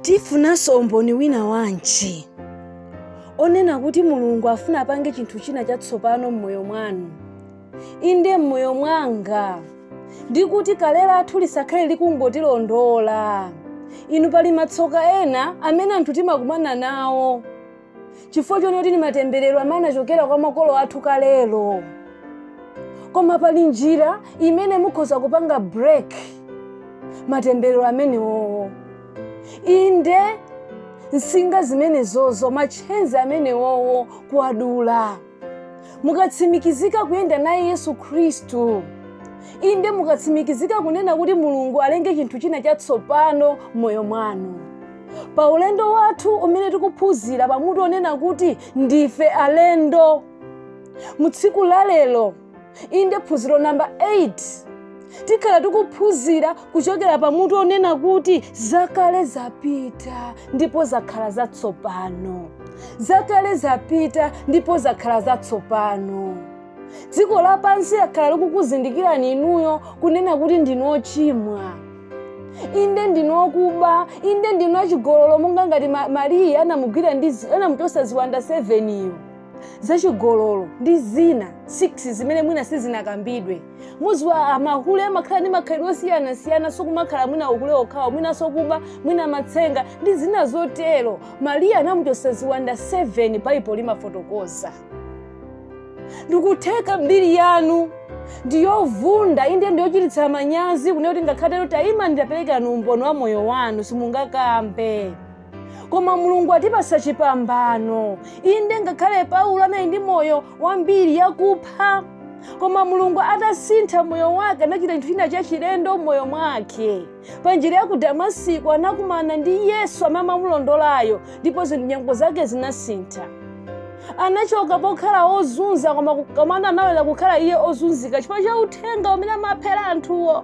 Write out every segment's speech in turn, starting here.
tifunanso umboni wina wanji onena kuti mulungu afuna apange chinthu china chatsopano m'moyo mwanu inde m'moyo mwanga ndi kuti kale lathu lisakhale likungotilondola inu pali matsoka ena amene anthu timakumana nawo chifukwa chonena kuti ni matemberero amene anachokera kwa makolo athu kalelo koma pali njira imene mukhoza kupanga break matemberero amenewowo inde nsinga zimenezozo matchenzi amenewowo kuwadula mukatsimikizika kuyenda naye yesu khristu inde mukatsimikizika kunena kuti mulungu alenge chinthu china chatsopano m'moyo mwanu pa ulendo wathu umene tikuphunzira pamutu onena kuti ndife alendo mu tsiku la lero inde phunziro namba 8 tikhala tikuphunzira kuchokera pa mutu onena kuti zakale zapita ndipo zakhala zatsopano zakale zapita ndipo zakhala zatsopano dziko lapansi lakhala likukuzindikirani inuyo kunena kuti ndinu ochimwa inde ndinu okuba inde ndinu achigololo monga ngati mariya anamugwira anamuchotsa ziwanda 7 iyo zachigololo ndi zina 6 zimene mwina sizinakambidwe muziwa amahule amakhala ndi makhalidwe osiyanasiyana sokumakhala mwina uhule okhawo mwina sokuba mwina matsenga ndi zina zotero mariya anamuchotsa ziwanda 7 baibulo limafotokoza ndikutheka mbiri yanu ndiyovunda inde ndiyochititsa manyazi kunena kuti ngakhale titanena tayima ndi taperekani umboni wa moyo wanu simungakambe koma mulungu atipasa chipambano inde ngakhale paulo anali ndi moyo wambiri yakupha koma mulungu atasintha moyo wake anachita chinthu china chachilendo moyo mwake pa njira ya ku damasiko anakumana ndi yesu amene amamulondolayo ndipo zi- nyengo zake zinasintha anachoka pokhala ozunza koma koma anabwerera kukhala iye ozunzika chifukwa cha uthenga umene amaphera anthuwo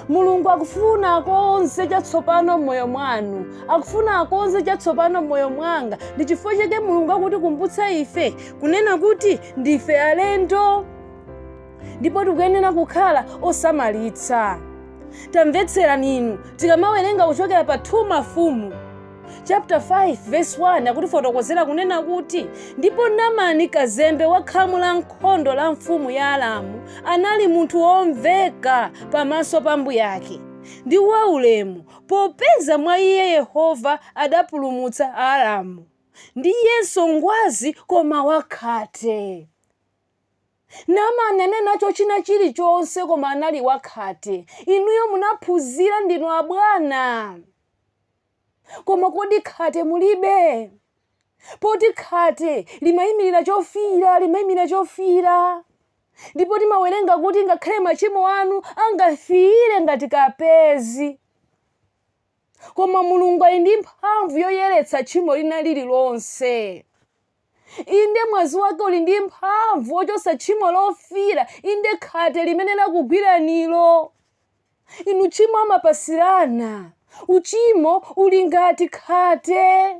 mulungu akufuna akonze chatsopano m'moyo mwanu akufuna akonze chatsopano m'moyo mwanga ndi chifukwa chake mulungu akutikumbutsa ife kunena kuti ndife alendo ndipo tikuyenera kukhala osamalitsa tamvetserani inu tikamawerenga kuchokera pa 2 mafumu chapter 5 verse 1 akutifotokozera kunena kuti ndipo namani kazembe wa khamu la nkhondo la mfumu ya aramu anali munthu womveka pamaso pa mbuyake ndi waulemu popeza mwa iye yehova adapulumutsa aaramu ndiyenso ngwazi koma wakhate namani anali nacho china chilichonse koma anali wakhate inuyo munaphunzira ndinu abwana koma kodi khate mulibe poti khate limayimirira chofiira limayimirira chofiira ndipo timawerenga kuti ngakhale machimo anu angafiire ngati kapezi koma mulungu ali ndi mphamvu yoyeretsa tchimo lina lililonse Inde, mwazi wake uli ndi mphamvu wochotsa tchimo lofiira, inde khate limene lakugwiranilo. Inu tchimo amapasirana. Uchimo uli ngati khate.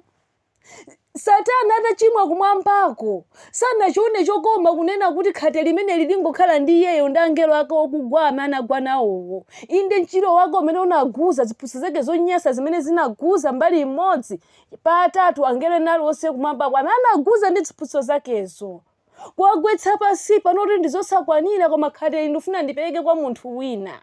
Satana atachimwa kumwambako sanachione chokoma kunena kuti khate limeneli lingokhala ndi iyeyo ndi angelo ake okugwa amene anagwa nawowo. Inde mchira wake umene unaguza ziphunzitso zake zonyansa zimene zinaguza mbali imodzi Pa atatu angelo onse kumwambako amene anaguza ndi ziphunzitso zakezo, kuwagwetsa pansi pano kuti ndizosakwanira, koma khate ili ndifuna ndipereke kwa munthu wina.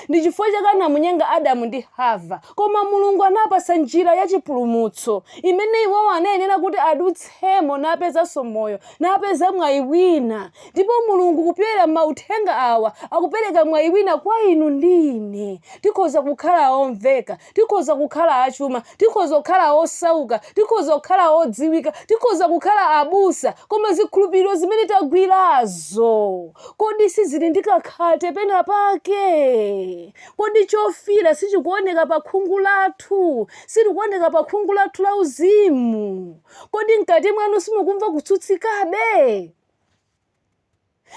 Ndi chifukwa chake anamunyenga Adamu ndi Hava, koma Mulungu anapasa njira ya chipulumutso imene iwowo anayenera kuti adutsemo napezanso moyo, napeza mwayi wina. Ndipo Mulungu kupyolera mauthenga awa akupereka mwayi wina kwa inu ndi ine. Tikhoza kukhala omveka, Tikhoza kukhala achuma, tikhoza kukhala osauka, tikhoza kukhala odziwika, tikhoza kukhala abusa, koma zikhulupiriro zimene tagwirazo, kodi sizili ndi kakhate penapake? Kodi chofiira sichikuoneka pakhungu lathu? Silikuoneka pakhungu lathu lauzimu? Kodi mkati mwanu simukumva kutsutsikabe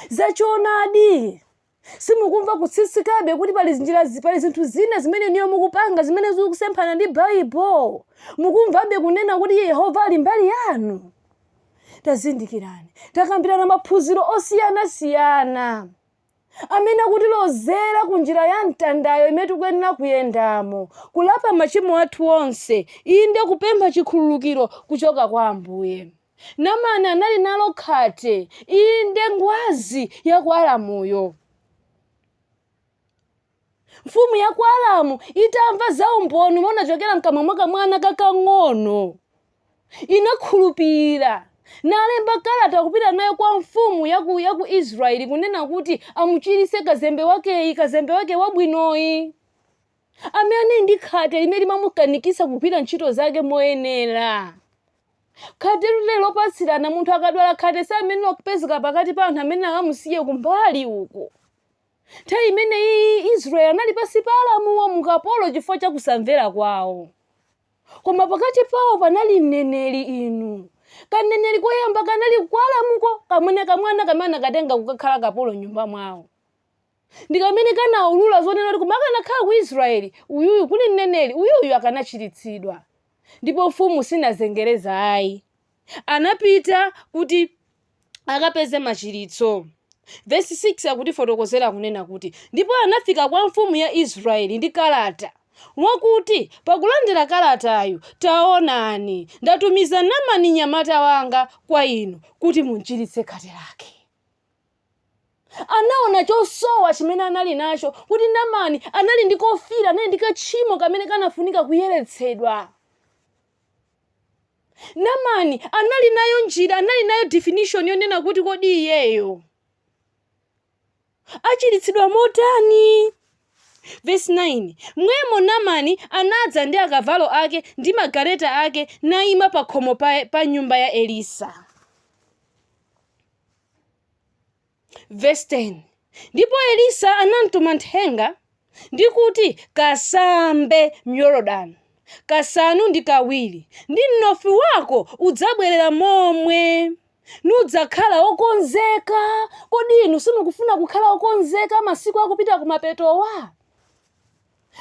za choonadi? Simukumva kutsutsikabe kuti pali njira zi- pali zinthu zina zimene inuyo mukupanga zimene zikusemphana ndi Baibulo? Mukumvabe kunena kuti Yehova ali mbali yanu? Tazindikirani, takambirana maphunziro osiyanasiyana amene akutilozera ku njira ya mtandayo imene tikuyenera kuyendamo, kulapa machimo athu onse, inde kupempha chikhululukiro kuchoka kwa Ambuye. Namani anali nalo khate, inde, ngwazi ya ku Aramuyo. Mfumu ya ku Aramu itamva za umboni umene unachokera mkamwa mwa kamwana kakang'ono, inakhulupirira nalemba kalata kupita nayo kwa mfumu ya ku, ya ku Israeli kunena kuti amuchiritse kazembe wakeyi, kazembe wake wabwinoyi amene anali ndi khate limene limamukanikisa kugwira ntchito zake moyenera. Khate lili lopatsirana. Munthu akadwala khate samayenera kupezeka pakati pa anthu amene akamusiye kumbali uko. Nthawi imeneyiyi Israeli anali pansi pa Aramuwo mu ukapolo chifukwa cha kusamvera kwawo. Koma pakati pawo panali mneneri inu. Kaneneri koyamba kanali ku Aramuko, kamwene kamwana kamene anakatenga kukakhala kapolo m'nyumba mwawo. Ndi kamene kanaulula zonena kuti koma akanakhala ku Israeli, uyuyu kuli mneneri, uyuyu akanachiritsidwa. Ndipo mfumu sinazengereza ayi. Anapita kuti akapeze machiritso. Vesi 6 akutifotokozera kunena kuti, Ndipo anafika kwa mfumu ya Israeli ndi kalata, wakuti, Pakulandira kalatayu, taonani, ndatumiza Namani mnyamata wanga kwa inu, kuti mumchiritse khate lake. anaona chosowa chimene anali nacho kuti namani anali ndi kofira anali ndi kachimo kamene kanafunika kuyeretsedwa namani anali nayo njira anali nayo definition yonena kuti kodi iyeyo achiritsidwa motani vesi 9 mwemo namani anadza ndi akavalo ake ndi magaleta ake naima pa khomo pa, pa nyumba ya elisa Vesi 10, Ndipo Elisa anamtuma nthenga, ndi kuti, Kasambe m'Yorodani kasanu ndi kawiri, ndi mnofu wako udzabwerera momwe, nudzakhala wokonzeka. Kodi inu simukufuna kukhala okonzeka masiku akupita kumapetowa?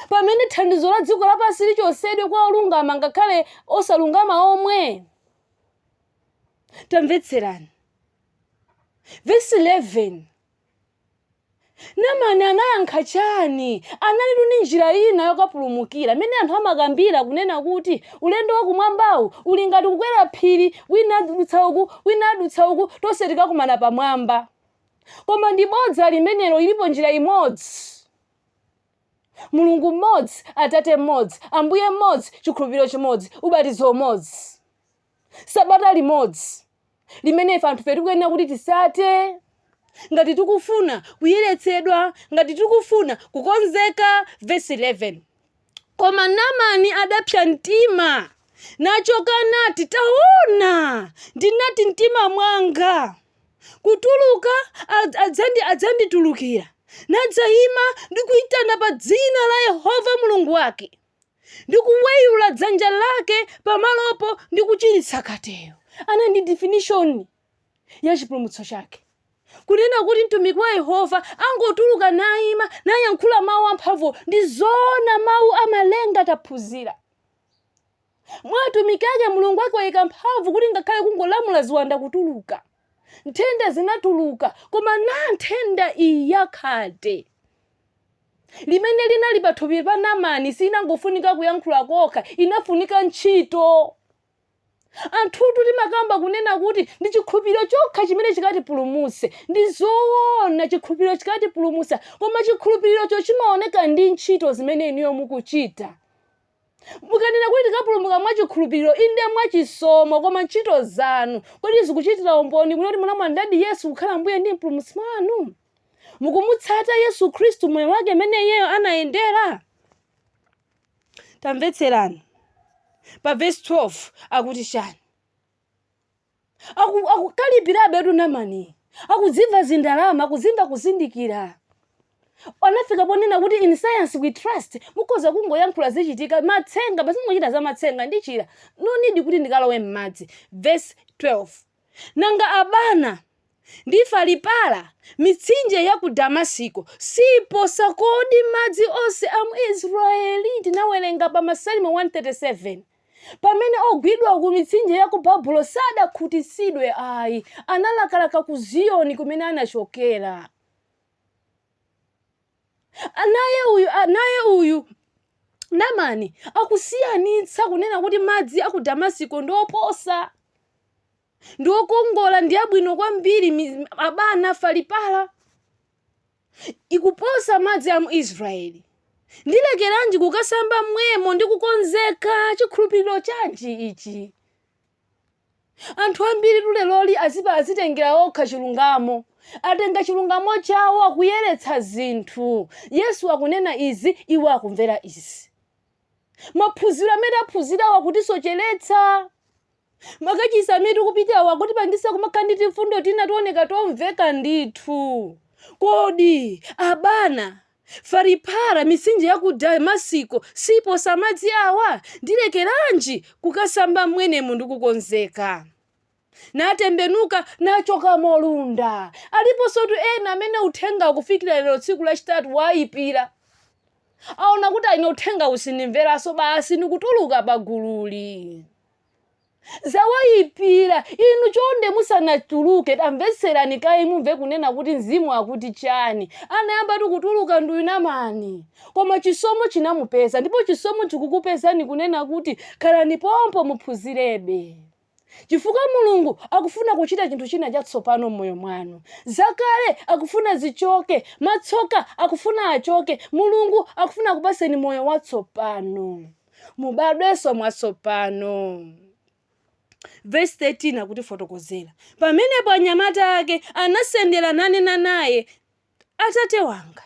Pamene thandizo la dziko lapansi lichotsedwe kwa olungama ngakhale osalungama omwe? tamvetserani vesi 11 namani anayankha chani analitu ndi njira ina yokapulumukira imene anthu amakambira kunena kuti ulendo wakumwambawu uli ngati kukwera phiri wina adutsa uku wina adutsa uku tonse tikakumana pamwamba koma ndi bodza limenelo ilipo njira imodzi mulungu mmodzi atate mmodzi ambuye mmodzi chikhulupiriro chimodzi ubatizo umodzi sabata limodzi limene ife anthufe tikuyenera kuti tisate ngati tikufuna kuyeretsedwa ngati tikufuna kukonzeka vesi 11 koma namani adapsa mtima nachoka nati taona ndinati mtima mwanga kutuluka ad- adzandi adzanditulukira nadzayima ndi kuyitana pa dzina la yehova mulungu wake ndi kuweyula dzanja lake pamalopo ndi kuchiritsa khateyo anali ndi definition ya chipulumutso chake kunena kuti mtumiki wa yehova angotuluka nayima nayankhula mawu amphamvu ndi zoona mawu amalenga taphunzira mwa atumiki ake mulungu waayika mphamvu kuti ngakhale kungolamula ziwanda kutuluka nthenda zinatuluka koma na nthenda iyi yakhate limene linali pathupi pa Namani siinangofunika kuyankhula kokha, inafunika ntchito. Anthutu timakamba kunena kuti ndi chikhulupiriro chokha chimene chikatipulumutse. Ndi zoona chikhulupiriro chikatipulumutsa, koma chikhulupirirocho chimaoneka ndi ntchito zimene inuyo mukuchita. Mukanena kuti tikapulumuka mwa chikhulupiriro, inde mwa chisomo, koma ntchito zanu, kodi zikuchitira umboni kunena kuti munamulandiradi Yesu kukhala Ambuye ndi Mpulumutsi wanu? Mukumutsata Yesu Khristu moyo wake mmene iyeyo anayendera? Tamvetserani. Pa vesi 12 akuti chani? Aku- akukalipirabetu namani akudzimva zindalama akudzimva kuzindikira anafika ponena kuti in science we trust mukhoza kungoyankhula zichitika matsenga basi muchita za matsenga ndichira no need kuti ndikalowe m'madzi verse 12 nanga abana ndi falipala mitsinje ya ku damasiko siposa kodi madzi onse a mu israeli tinawerenga pa masalimo 137 Pamene ogwidwa ku mitsinje ya ku Babulo sadakhutitsidwe ayi, analakalaka ku Ziyoni kumene anachokera. Naye uyu, naye uyu Namani akusiyanitsa kunena kuti madzi a ku Damasiko ndi oposa ndi okongola ndi abwino kwambiri abana falipala ikuposa madzi a mu Israeli. Ndilekeranji kukasamba mmwemo ndi kukonzeka? Chikhulupiriro chanji ichi? Anthu ambiri leroli azipa azitengera okha chilungamo, atenga chilungamo chawo akuyeretsa zinthu. Yesu akunena izi, iwo akumvera izi. Maphunziro amene taphunzirawo akutisocheretsa. Makachitsi amene tikupitawa akutipangitsa kumakhala ndi timfundo tina tooneka tomveka ndithu. Kodi, Abana, Faripara, mitsinje ya ku Damasiko siiposa madzi awa? Ndilekeranji kukasamba m'mwenemo ndi kukonzeka? natembenuka nachoka molunda. Aliponsotu ena amene uthengawu kufikira lero tsiku lachitatu waaipira. Aona kuti, Ine uthengawu sindimveranso, basi ndikutuluka pagululi. zawaipira inu chonde musanatuluke tamvetserani kaye mumve kunena kuti mzimu akuti chani anayambatu kutuluka nduyu Namani koma chisomo chinamupeza ndipo chisomo chikukupezani kunena kuti khalani pompo muphunzirebe chifukwa mulungu akufuna kuchita chinthu china chatsopano m'moyo mwanu zakale akufuna zichoke matsoka akufuna achoke mulungu akufuna kupaseni moyo watsopano mubadwenso mwatsopano. Vesi 13 akutifotokozera, pamenepo anyamata ake anasendera nanena naye, Atate wanga,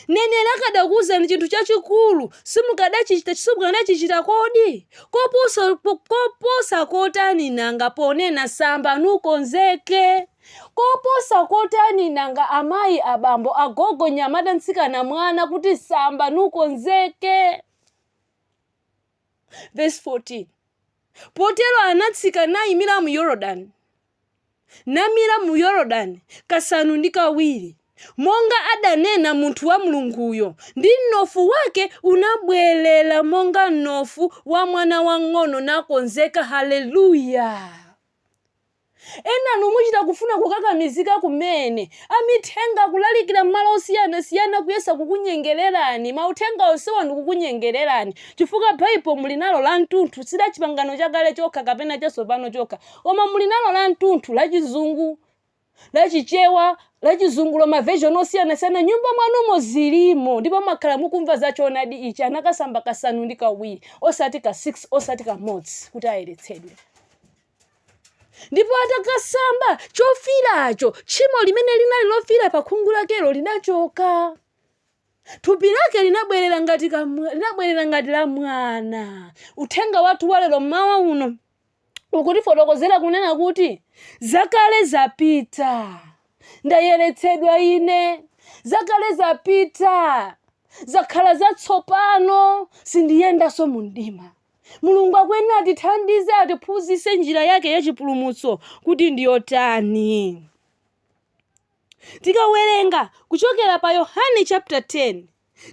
neneri akadakuwuzani chinthu chachikulu simukadachichita kodi? Koposa kotani nanga ponena samba nukonzeke? Koposa kotani nanga amayi, abambo, agogo, nyamata, mtsikana, mwana kuti samba nukonzeke? Vesi 14 Potero anatsika nayimira mu Yorodani, namira mu Yorodani kasanu ndi kawiri, monga adanena munthu wa Mulunguyo, ndi mnofu wake unabwerera monga mnofu wa mwana wang'ono nakonzeka. Haleluya! Enanu muchita kufuna kukakamizika kumene. Amithenga akulalikira m'malo osiyanasiyana kuyesa kukunyengelerani. Mauthenga onsewa ndi kukunyengelerani chifukwa Bible muli nalo lamtunthu si la chipangano chakale chokha kapena chatsopano chokha koma muli nalo lamtunthu la chizungu, la chichewa, la chizungulo ma version osiyanasiyana nyumba mwanumo zilimo ndipo mwakhala mukumva za choonadi ichi anakasamba kasanu ndi kawiri osati ka 6 osati kamodzi kuti ayeretsedwe. ndipo atakasamba chofiiracho tchimo limene linali lofiira pa khungu lakelo linachoka thupi lake linabwerera ngati kamwa- linabwerera ngati la mwana uthenga wathu walero mmawa uno ukutifotokozera kunena kuti zakale zapita ndayeretsedwa ine zakale zapita zakhala zatsopano sindiyendanso mu mdima Mulungu akuyenera atithandize, atiphunzitse njira yake ya chipulumutso kuti ndi yotani. Tikawerenga kuchokera pa Yohane chapter 10,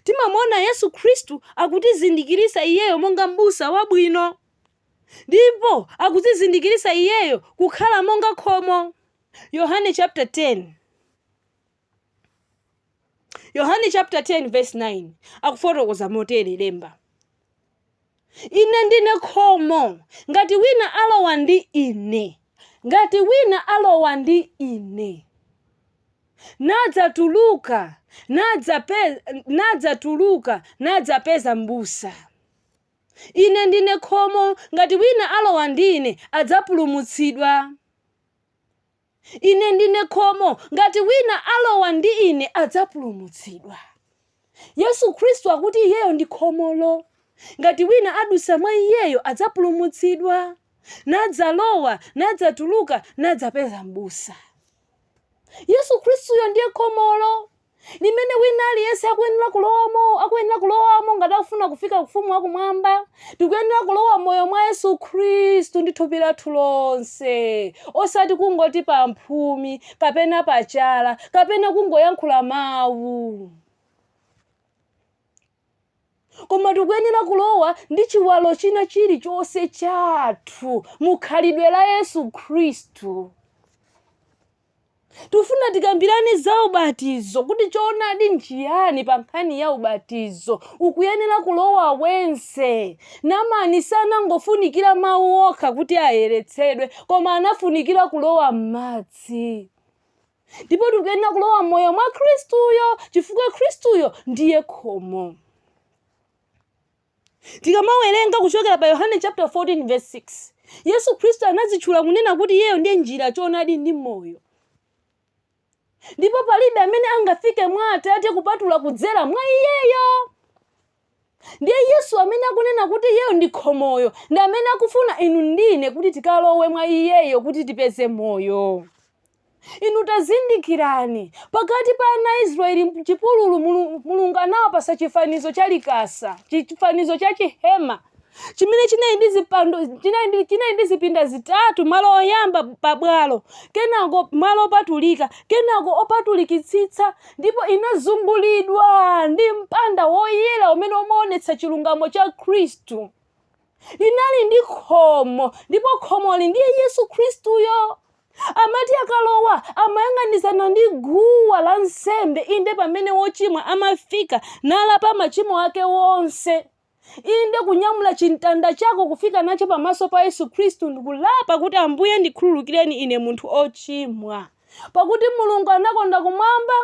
timamuona Yesu Khristu akutizindikiritsa iyeyo monga m'busa wabwino. Ndipo akutizindikiritsa iyeyo kukhala monga khomo. Yohane chapter 10. yohane chapter 10 verse 9 akufotokoza motere lemba ine ndine khomo ngati wina alowa ndi ine ngati wina alowa ndi ine nadzatuluka nadzape- nadzatuluka nadzapeza m'busa ine ndine khomo ngati wina alowa ndi ine adzapulumutsidwa Ine ndine khomo, ngati wina alowa ndi Ine adzapulumutsidwa. Yesu Khristu akuti Iyeyo ndi khomolo. Ngati wina adutsa mwa Iyeyo adzapulumutsidwa, nadzalowa, nadzatuluka, nadzapeza m'busa. Yesu Khristuyo ndiye khomolo. limene wina aliyense akuyenera kulowamo akuyenera kulowamo ngati akufuna kufika kufumu wakumwamba tikuyenera kulowa moyo mwa yesu khristu ndi thupi lathu lonse osati kungoti pa mphumi kapena pachala kapena kungoyankhula mawu Koma tikuyenera kulowa ndi chiwalo china chilichonse chathu mu khalidwe la Yesu Khristu. Tufuna tikambirane za ubatizo kuti choonadi nchiyani pa nkhani ya ubatizo. Ukuyenera kulowa wense. Namani sanangofunikira mawu okha kuti ayeretsedwe, koma anafunikira kulowa m'madzi. ndipo tikuyenera kulowa moyo mwa khristuyo chifukwa khristuyo ndiye khomo tikamawerenga kuchokera pa yohane chapter 14 verse 6 yesu khristu anadzitchula kunena kuti iyeyo ndiye njira choonadi ndi moyo ndipo palibe amene angafike mwa atate kupatula kudzera mwa iyeyo ndiye yesu amene akunena kuti iyeyo ndi khomoyo ndi amene akufuna inu ndine kuti tikalowe mwa iyeyo kuti tipeze moyo inu tazindikirani pakati pa ana a israeli mchipululu Mulu- mulungu anawapasa chifanizo cha likasa chifanizo cha chihema chimene chinali ndi zipando chinali ndi, chinali ndi zipinda zitatu malo oyamba pa bwalo kenako malo opatulika kenako opatulikitsitsa ndipo inazungulidwa ndi mpanda woyera umene umaonetsa chilungamo cha khristu inali ndi khomo ndipo khomoli ndiye yesu khristuyo amati akalowa amayang'anizana ndi guwa la nsembe inde pamene wochimwa amafika nalapa machimo ake wonse Inde, kunyamula chimtanda chako kufika nacho pamaso pa Yesu Khristu ndi kulapa kuti, Ambuye, ndikhululukireni ine munthu ochimwa. Pakuti Mulungu anakonda kumwamba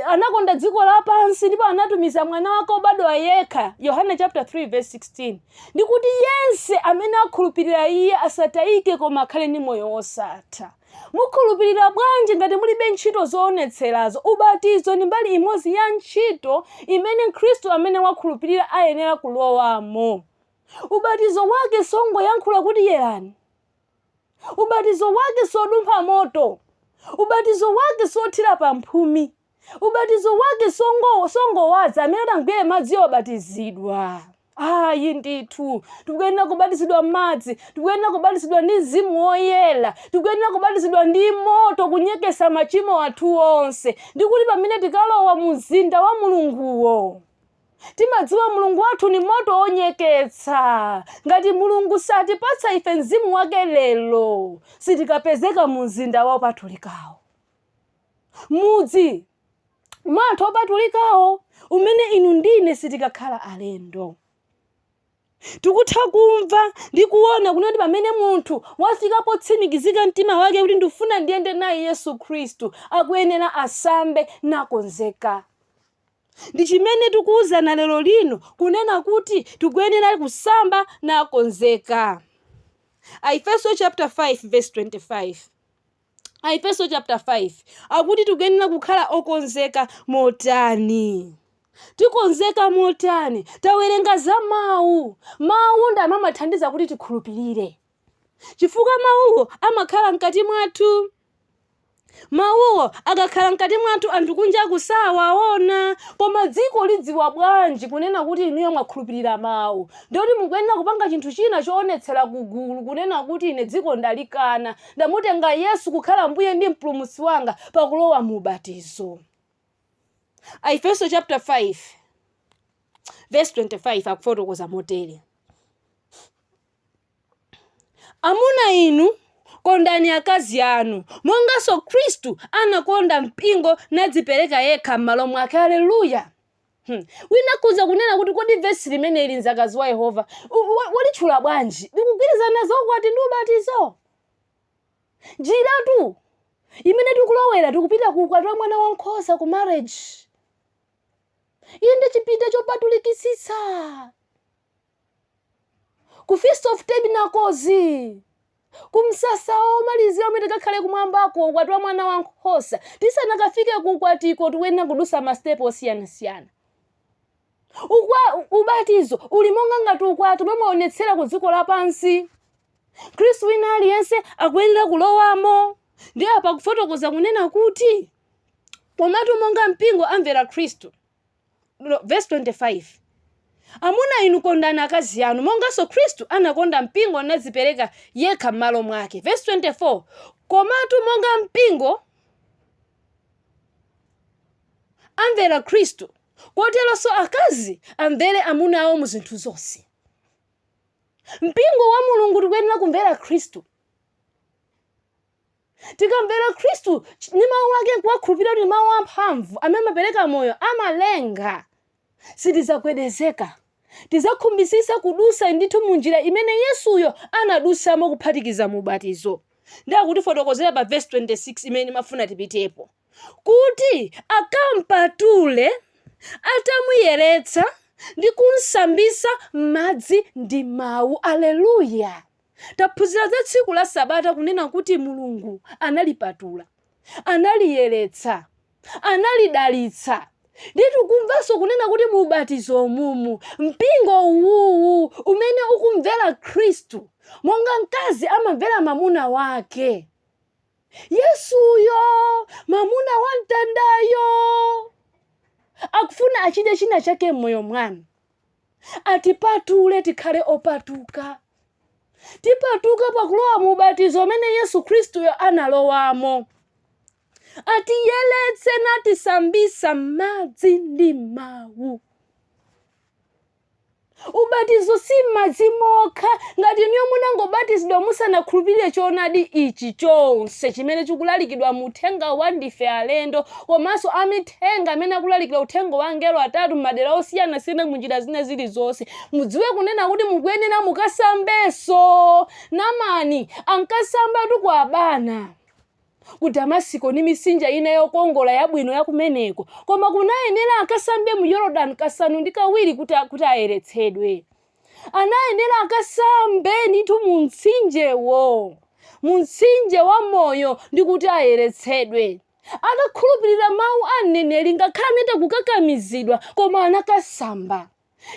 anakonda dziko lapansi ndipo anatumiza mwana wake obadwa yekha Yohane chapter 3 verse 16 ndikuti yense amene akhulupirira iye asatayike koma akhale ndi moyo wosatha Mukhulupilira bwanji ngati mulibe ntchito zoonetserazo? Ubatizo ndi mbali imodzi ya ntchito imene Mkristu amene wakhulupilira ayenera kulowamo. Ubatizo wake songoyankhula kuti yerani. Ubatizo wake sodumpha moto. Ubatizo wake sothira pa mphumi. Ubatizo wake songowaza amene atagwire madzi obatizidwa. Ayi ndithu tikuyenera kubatizidwa m'madzi, tikuyenera kubatizidwa ndi mzimu woyera, tikuyenera kubatizidwa ndi moto kunyeketsa machimo athu onse. Ndikuti pamene tikalowa mu mzinda wa Mulunguwo, timadziwa mulungu wathu ni moto onyeketsa ngati mulungu satipatsa ife mzimu wake lero sitikapezeka mu mzinda wopatulikawo mudzi mwa anthu opatulikawo umene inu ndine sitikakhala alendo tikutha kumva ndi kuona kunena kuti pamene munthu wafika potsimikizika mtima wake kuti ndifuna ndiyende naye yesu khristu akuyenera asambe nakonzeka ndi chimene tikuwuzana lero lino kunena kuti tikuyenera kusamba nakonzeka aefeso chapter 5 verse 25 Aefeso chapter 5 akuti tikuyenera kukhala okonzeka motani tikonzeka motani tawerenga za mawu mawu ndi amene amathandiza kuti tikhulupirire chifukwa mawuwo amakhala mkati mwathu mawuwo akakhala mkati mwathu anthu kunja osawaona koma dziko lidziwa bwanji kunena kuti inuyo mwakhulupirira mawu ndikuti mukuyenera kupanga chinthu china choonetsera kugulu kunena kuti ine dziko ndalikana Ndamutenga Yesu kukhala Mbuye ndi Mpulumutsi wanga pakulowa mu ubatizo. Aefeso chapter 5 verse 25 akufotokoza motere. Amuna inu, kondani akazi anu, monganso Khristu anakonda mpingo nadzipereka yekha m'malo mwake. Aleluya! Hmm. Wina akhoza kunena kuti kodi vesi limeneli mzakazi wa Yehova walitchula bwanji? Likugwirizana za ukwati ndi ubatizo? Njiratu imene tikulowera tikupita ku ukwati wa mwana wankhosa ku marriage. Inde chipinda chopatulikitsitsa. ku Feast of Tabernacles, ku msasa womalizira umene tikakhale kumwambako, ukwati wa mwana wa nkhosa. Tisanakafike ku ukwatiko, tikuyenera kudusa masitepe osiyanasiyana. Ubatizo uli monga ngati ukwati umene umaonetsera ku dziko lapansi. Khristu wina aliyense akuyenera kulowamo. Ndiye apa kufotokoza kunena kuti komatu monga mpingo amvera Khristu. verse 25 amuna inu kondani akazi anu monganso khristu anakonda mpingo nadzipereka yekha m'malo mwake verse 24 komatu monga mpingo amvera khristu koteronso akazi amvere amuna awo mu zinthu zonse mpingo wa mulungu tikuyenera kumvera khristu Tikamvera Khristu ch- ndi mawu ake nkuwakhulupirira kuti ndi mawu amphamvu amene amapereka moyo amalenga sitidzagwedezeka tidzakhumbitsitsa kudusa ndithu mu njira imene yesuyo anadusamo kuphatikiza mu ubatizo ndiye akutifotokozera pa vesi 26 imene ndimafuna tipitepo kuti akampatule atamuyeretsa ndi kumsambisa madzi ndi mawu aleluya Taphunzira za tsiku la Sabata kunena kuti Mulungu analipatula, analiyeretsa, analidalitsa. Ndiye tikumvanso kunena kuti mu ubatizo umumu, mpingo uwuwu umene ukumvera Khristu monga mkazi amamvera mamuna wake, Yesuyo, mamuna wa mtandayo, akufuna achite china chake m'moyo mwanu. atipatule tikhale opatuka tipatuka pakulowa mu ubatizo umene yesu khristuyo analowamo atiyeletse natisambisa m'madzi ndi m'mawu ubatizo si m'madzi mokha ngati inuyo munangobatizidwa musanakhulupirire choonadi ichi chonse chimene chikulalikidwa mu uthenga wa ndife alendo komanso amithe Enga amene akulalikira uthenga wa angelo atatu m'madera osiyanasiyana mu njira zina zilizonse. Mudziwe kunena kuti mukuyenera mukasambenso. Namani ankasambatu ku Abana, ku Damasiko ndi misinja ina yokongola yabwino ya kumeneko. Koma kunayenera akasambe mu Yorodani kasanu ndi kawiri kuti a, kuti ayeretsedwe. Anayenera akasambe ndithu mu mtsinjewo, mu mtsinje wa moyo ndi kuti ayeretsedwe. Anakhulupirira mawu a mneneri ngakhale anachita kukakamizidwa koma anakasamba.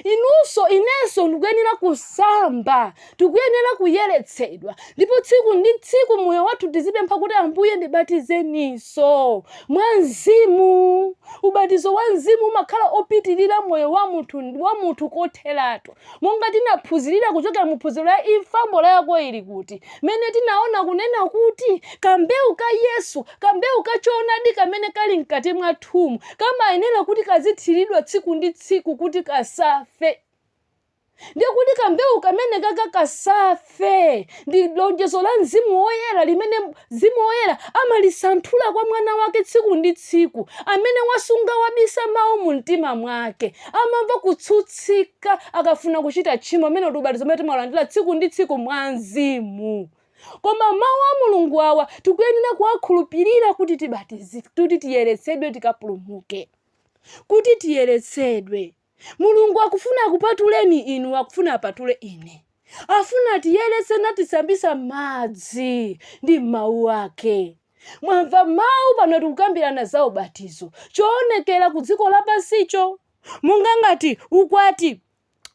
Inunso inenso ndikuyenera kusamba. Tikuyenera kuyeretsedwa. Ndipo tsiku ndi tsiku moyo wathu tizipempha kuti Ambuye ndibatizeninso mwa mzimu. Ubatizo wa mzimu umakhala opitirira moyo wa munthu wa munthu kotheratu. Monga tinaphunzirira kuchokera mu phunziro la Imfa Mbola Yako Ili Kuti? mmene tinaona kunena kuti kambewu ka Yesu, kambewu ka choonadi kamene kali mkati mwathumu, kamayenera kuti kazithiridwa tsiku ndi tsiku kuti kasafe. Ndiye kuti kambewu kamenekaka kasafe. fe ndi lonjezo la mzimu woyera limene mzimu woyera amalisanthula kwa mwana wake tsiku ndi tsiku amene wasunga wabisa mawu mu mtima mwake amamva kutsutsika akafuna kuchita tchimo umene ndi ubatizo umene timalandira tsiku ndi tsiku mwa mzimu koma mawu a mulungu awa tikuyenera kuwakhulupirira kuti tibatizike kuti tiyeretsedwe tikapulumuke kuti tiyeretsedwe Mulungu akufuna akupatuleni inu, akufuna apatule ine. Afuna atiyeretse natisambitsa m'madzi ndi m'mawu ake. Mwamva mawu pano tikukambirana za ubatizo, choonekera ku dziko lapansicho, monga ngati ukwati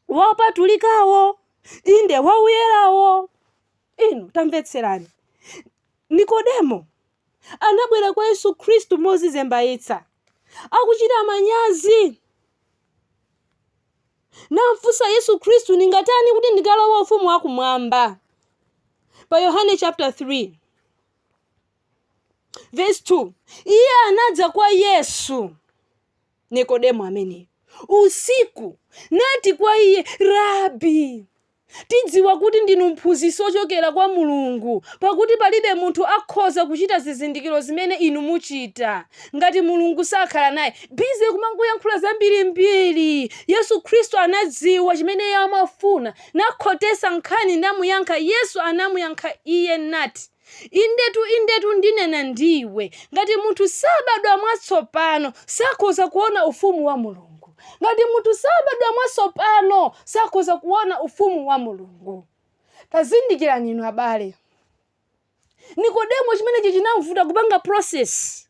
wa opatulikawo, inde, wa uyerawo. Inu tamvetserani, Nikodemo anabwera kwa Yesu Khristu mozizembaitsa, akuchita manyazi, namfunsa Yesu Khristu, Ndingatani kuti ndikalowe ufumu wa kumwamba? Pa Yohane chapter 3 verse 2 iye anadza kwa Yesu Nikodemo ameneyo usiku, nati kwa iye, Rabi, tidziwa kuti ndinu mphunzitsi wochokera kwa Mulungu, pakuti palibe munthu akhoza kuchita zizindikiro zimene inu muchita, ngati Mulungu sakhala naye. Busy kumangoyankhula zambirimbiri. Yesu Khristu anadziwa chimene iye amafuna, nakhotetsa nkhani namuyankha. Yesu anamuyankha iye nati. Indetu, indetu, ndinena ndi iwe, ngati munthu sabadwa mwatsopano, sakhoza kuona ufumu wa Mulungu. Ngati munthu sabadwa mwatsopano, sakhoza kuona ufumu wa Mulungu. Tazindikirani inu abale. Nikodemo chimenechi chinamvuta kupanga process.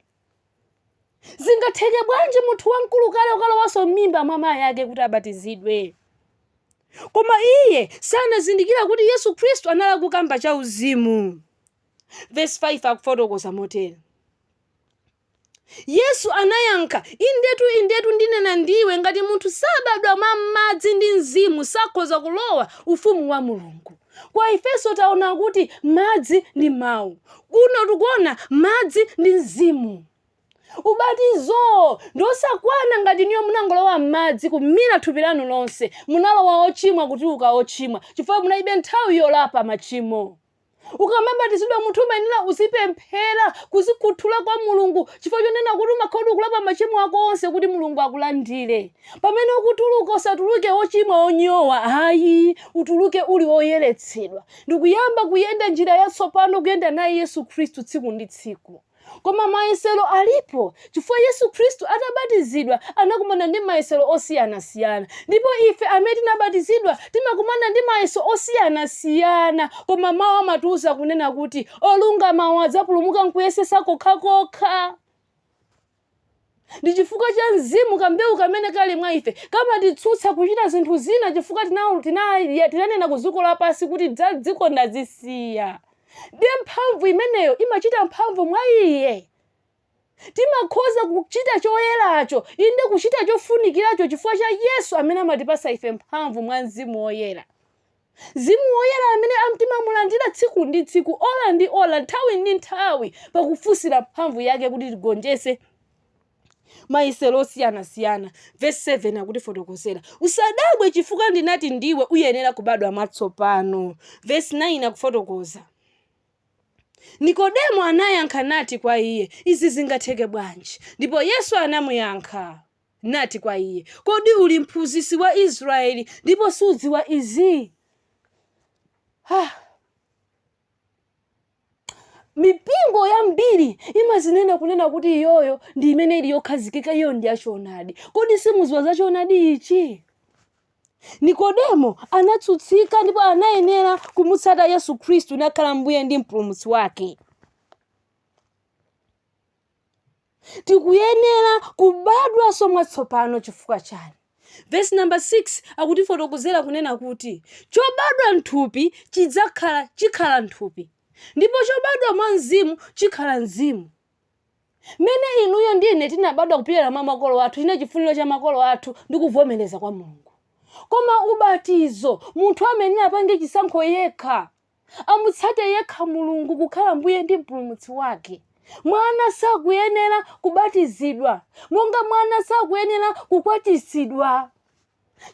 zingatheke bwanji munthu wamkulu kale ukalowanso m'mimba mwa mayi ake kuti abatizidwe koma iye sanazindikira kuti yesu khristu anali akukamba cha uzimu vesi 5 akufotokoza motere yesu anayankha indetu indetu ndinena ndiwe ngati munthu sabadwa mwa madzi ndi mzimu sakhoza kulowa ufumu wa mulungu Kwa Aefeso taona kuti madzi ndi mawu. Kuno tikuona madzi ndi Mzimu. Ubatizo ndi osakwana ngati inuyo munangolowa m'madzi kumira thupi lanu lonse, munalowa ochimwa kutuluka ochimwa chifukwa munalibe nthawi yolapa machimo. Ukamabatizidwa munthu umayenera uzipemphera, kuzikhuthula kwa Mulungu chifukwa chonena kuti umakhala kuti ukulapa machimo ako onse kuti Mulungu akulandire. Pamene ukutuluka usatuluke wochimwa wonyowa ayi, utuluke uli woyeretsedwa ndikuyamba kuyenda njira yatsopano kuyenda naye Yesu Khristu tsiku ndi tsiku. Koma mayesero alipo chifukwa Yesu Khristu atabatizidwa anakumana ndi mayesero osiyanasiyana ndipo ife amene tinabatizidwa timakumana ndi mayeso osiyanasiyana koma mawu amatiuza kunena kuti olungama adzapulumuka nkuyesesa kokhakokha. Ndi chifukwa cha Mzimu kambewu kamene kali mwa ife kamatitsutsa kuchita zinthu zina chifukwa tinanena ku dziko lapansi kuti za dziko ndazisiya. Ndiye mphamvu imeneyo imachita mphamvu mwa iye. Timakhoza kuchita choyeracho, inde kuchita chofunikiracho chifukwa cha Yesu amene amatipatsa ife mphamvu mwa Mzimu Woyera. Mzimu Woyera amene timamulandira tsiku ndi tsiku, ola ndi ola, nthawi ndi nthawi, pakufunsira mphamvu yake kuti tigonjetse mayesero osiyanasiyana. Vesi 7 akutifotokozera, Usadabwe chifukwa ndinati ndiwe uyenera kubadwa mwatsopano. Vesi 9 akufotokoza, Nikodemo anayankha nati kwa iye, Izi zingatheke bwanji? Ndipo Yesu anamuyankha. nati kwa iye, Kodi uli mphunzitsi wa Israyeli, ndipo sudziwa izi? Ha! mipingo yambiri imazinena kunena kuti iyoyo ndi imene ili yokhazikika iyo ndi yachoonadi kodi simudziwa za choonadi ichi nikodemo anatsutsika ndipo anayenera kumutsata yesu khristu nakhala mbuye ndi mpulumutsi wake Tikuyenera kubadwanso mwatsopano chifukwa chani? Vesi namba 6 akutifotokozera kunena kuti chobadwa mthupi chidzakhala, chikhala mthupi ndipo chobadwa mwa mzimu chikhala mzimu. Mmene inuyo ndi ine tinabadwa kupyolera mwa makolo athu chinali chifuniro cha makolo athu ndi kuvomereza kwa Mulungu. Koma ubatizo munthu amayenera apange chisankho yekha amutsate yekha Mulungu kukhala Mbuye ndi Mpulumutsi wake. Mwana sakuyenera kubatizidwa, monga mwana sakuyenera kukwatitsidwa,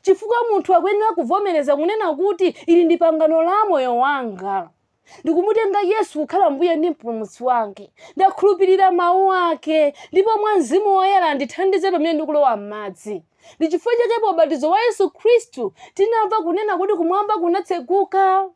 chifukwa munthu akuyenera kuvomereza kunena kuti ili ndi pangano la moyo wanga. Ndikumutenga Yesu kukhala Mbuye ndi Mpulumutsi wake. Ndakhulupirira mawu ake, ndipo mwa Mzimu Woyera ndithandize pamene ndikulowa m'madzi. ndi chifukwa chake pa ubatizo wa yesu khristu tinamva kunena kuti kumwamba kunatseguka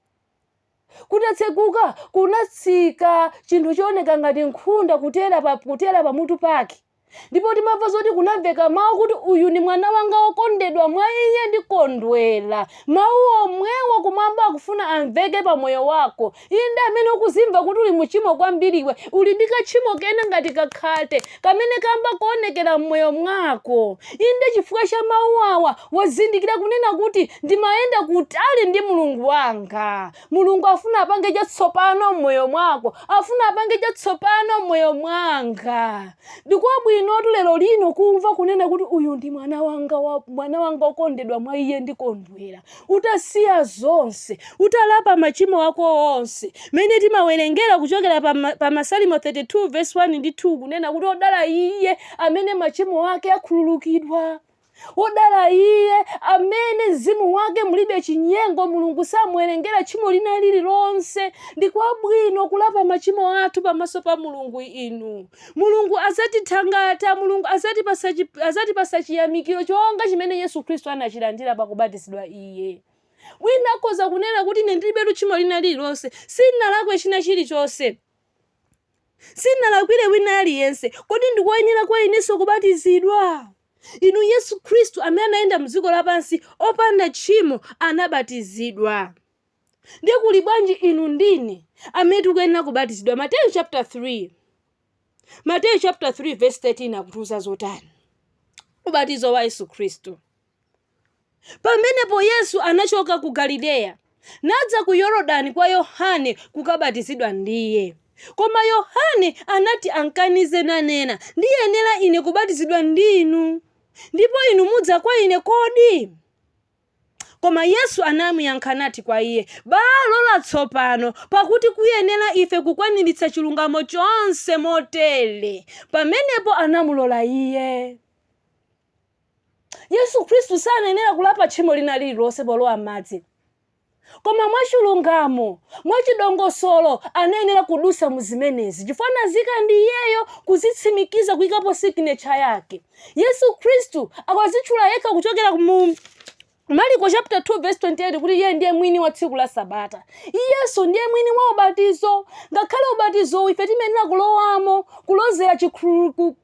kutatseguka kunatsika chinthu chooneka ngati nkhunda kutera pa kutera pamutu pake ndipo timamva zoti kunamveka mawu kuti uyu ndi mwana wanga wokondedwa mwa iye ndikondwera mawu omwewo kumwamba akufuna amveke pa moyo wako Inde, amene ukuzimva kuti uli mu chimo kwambiriwe, uli ndi ka tchimo kena ngati ka khate kamene kamba kuonekera m'moyo mwako. Inde, chifukwa cha mawu awa, wazindikira kunena kuti, Ndimayenda kutali ndi Mulungu wanga. Mulungu afuna apange chatsopano m'moyo mwako, afuna apange chatsopano m'moyo mwanga. Ndikwabwinotu lero lino kumva kunena kuti, Uyu ndi mwana wanga, mwana wanga okondedwa, mwa iye ndikondwera. utasiya zonse, utalapa machimo ako onse, mmene timawerengera kuchokera pa, pa Masalimo 32 vesi 1 ndi 2 kunena kuti odala iye amene machimo ake akhululukidwa wodala iye amene mzimu wake mulibe chinyengo mulungu samuwerengera tchimo lina lililonse ndi kwabwino kulapa machimo athu pamaso pa mulungu inu Mulungu adzatithangata, Mulungu adzatipasa, adzatipasa chiyamikiro chonga chimene Yesu Khristu anachilandira pakubatizidwa Iye. Wina akhoza kunena kuti ine ndilibe tchimo lina lililonse, sinalakwe china chilichonse sinalakwire wina aliyense kodi ndikoyenera kwa inenso kubatizidwa inu yesu khristu amene anayenda mdziko lapansi opanda tchimo anabatizidwa ndiye kuli bwanji inu ndine amene tikuyenera kubatizidwa mateyu chapter 3 mateyu chapter 3 verse 13 akutiuza zotani ubatizo wa yesu khristu pamenepo yesu anachoka ku galileya nadza ku yorodani kwa yohane kukabatizidwa ndiye koma yohane anati ankanize nanena ndiyenera ine kubatizidwa ndi inu ndipo inu mudza kwa ine kodi Koma Yesu anamuyankha nati kwa iye, Balola tsopano, pakuti kuyenera ife kukwaniritsa chilungamo chonse motere. Pamenepo anamulola iye. Yesu Khristu sanayenera kulapa tchimo lina lililonse polowa m'madzi. Koma mwachilungamo, mwachidongosolo anayenera kudusa mu zimenezi chifukwa anazika ndi iyeyo kuzitsimikiza kuikapo siginecha yake. Yesu Khristu akwazitchula yekha kuchokera mu Mariko chapter 2 verse 28 kuti iye ndiye mwini wa tsiku la sabata. Iyenso ndiye mwini wa ubatizo. Ngakhale ubatizowu ife timayenera kulowamo kulozera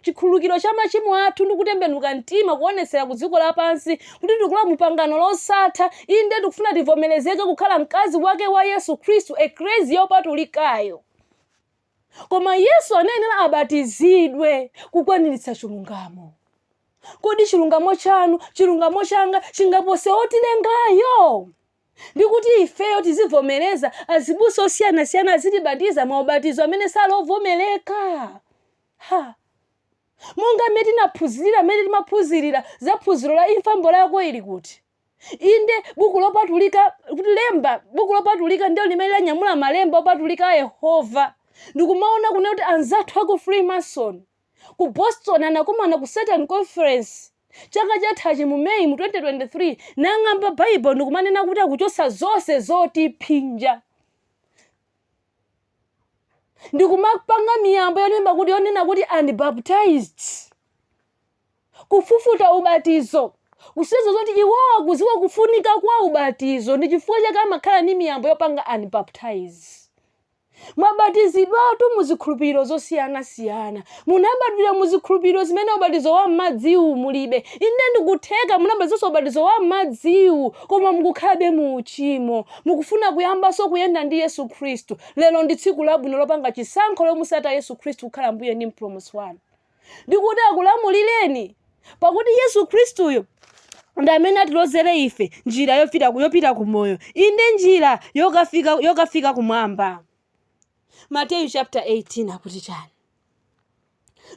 chikhululukiro cha machimo athu ndi kutembenuka mtima kuonetsera ku dziko lapansi kuti tikulowa mu pangano losatha, inde, tikufuna tivomerezeke kukhala mkazi wake wa Yesu Khristu, ekleziya yopatulikayo. Koma Yesu anayenera abatizidwe kukwaniritsa chilungamo. Kodi chilungamo chanu, chilungamo changa chingapose wotilengayo? ndi kuti ifeyo tizivomereza azibusa osiyanasiyana azitibatiza maubatizo amene sali ovomerezeka ha Monga mmene tinaphunzirira mmene timaphunzirira za phunziro la imfa mbola yako ili kuti? Inde, buku lopatulika, kuti lemba, buku lopatulika ndilo limene lanyamula malemba opatulika a Yehova. Ndikumaona kunena kuti anzathu a ku Freemason ku Boston anakumana ku Satan Conference chaka chathachi mu May mu 2023 nang'amba Bible ndikumanena kuti akuchotsa zonse zotiphinja. ndikumapanga miyambo yonena kuti yonena kuti unbaptized kufufuta ubatizo kusonyeza zoti iwowo akuziwa kufunika kwa ubatizo ndi chifukwa chake amakhala ndi miyambo yopanga unbaptized mwabatizidwatu mu zikhulupiriro zosiyanasiyana Munabadwira mu zikhulupiriro zimene ubatizo wa m'madziwu mulibe. Inde ndikutheka munabatizidwanso ubatizo wa m'madziwu koma mukukhalabe mu uchimo. Mukufuna kuyambanso kuyenda ndi Yesu Khristu. Lero ndi tsiku labwino lopanga chisankho lomusata Yesu Khristu kukhala Mbuye ndi Mpulumutsi wanu. Ndi kuti akulamulireni. Pakuti Yesu Khristuyo ndi amene atilozere ife njira yopita, yopita ku moyo. Inde njira yokafika, yokafika kumwamba. mateyu chapter 18 akuti chani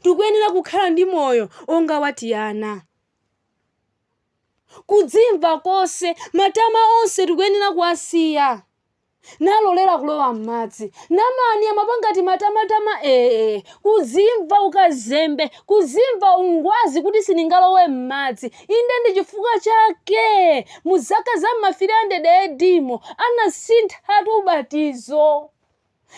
tikuyenera kukhala ndi moyo onga wa tiana kudzimva konse matama onse tikuyenera kuwasiya nalolera kulowa m'madzi namani amapanganso timatama ee kuzimva ukazembe kuzimva ungwazi kuti sindingalowe m'madzi Inde, ndi chifukwa chake mu zaka za m'ma 300 AD mo anasinthatu ubatizo.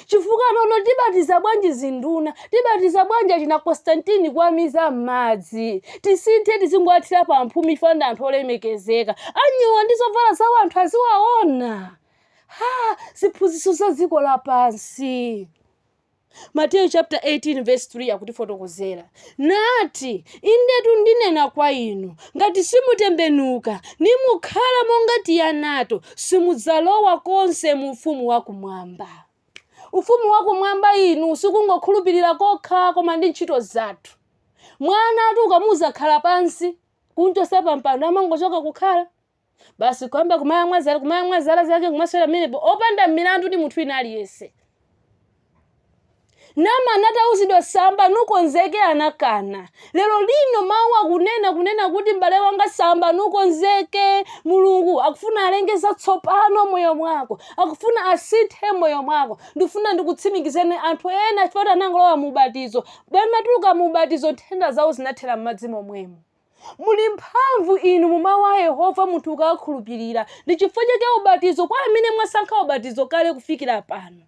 Chifukwa nanga tibatiza bwanji zinduna? Tibatiza bwanji achina Constantine kuwamiza m'madzi? Tisinthe tizingowathira pa mphumi chifukwa ndi anthu olemekezeka. Anyowa ndi zovala zawo anthu aziwaona. Ha! Ziphunzitso za dziko lapansi. Mateyu chapter 18 verse 3 akutifotokozera nati, indetu ndinena kwa inu, ngati simutembenuka nimukhala monga tianato, simudzalowa konse mu ufumu wa kumwamba. Ufumu wa kumwamba inu sikungokhulupirira kokha, koma ndi ntchito zathu. Mwanatu ukamuuza khala pansi, kumchosa pa mpando amangochoka kukhala. basi kuyamba kumayamwa zala zake kumasewera mmenemo opanda milandu ndi munthu wina aliyense namani atauzidwa samba nukonzeke anakana lero lino mawu akunena kunena kuti m'bale wanga samba nukonzeke mulungu akufuna alenge zatsopano m'moyo mwako akufuna asinthe m'moyo mwako ndikufuna ndikutsimikizeni anthu ena chifukwa anangolowa mu ubatizo pamatuluka mu ubatizo nthenda zawo zinathera m'madzi momwemo Muli mphamvu inu mu Mawu a Yehova munthu ukawakhulupirira. Ndi chifukwa chake ubatizo, kwa amene mwasankha ubatizo kale kufikira pano,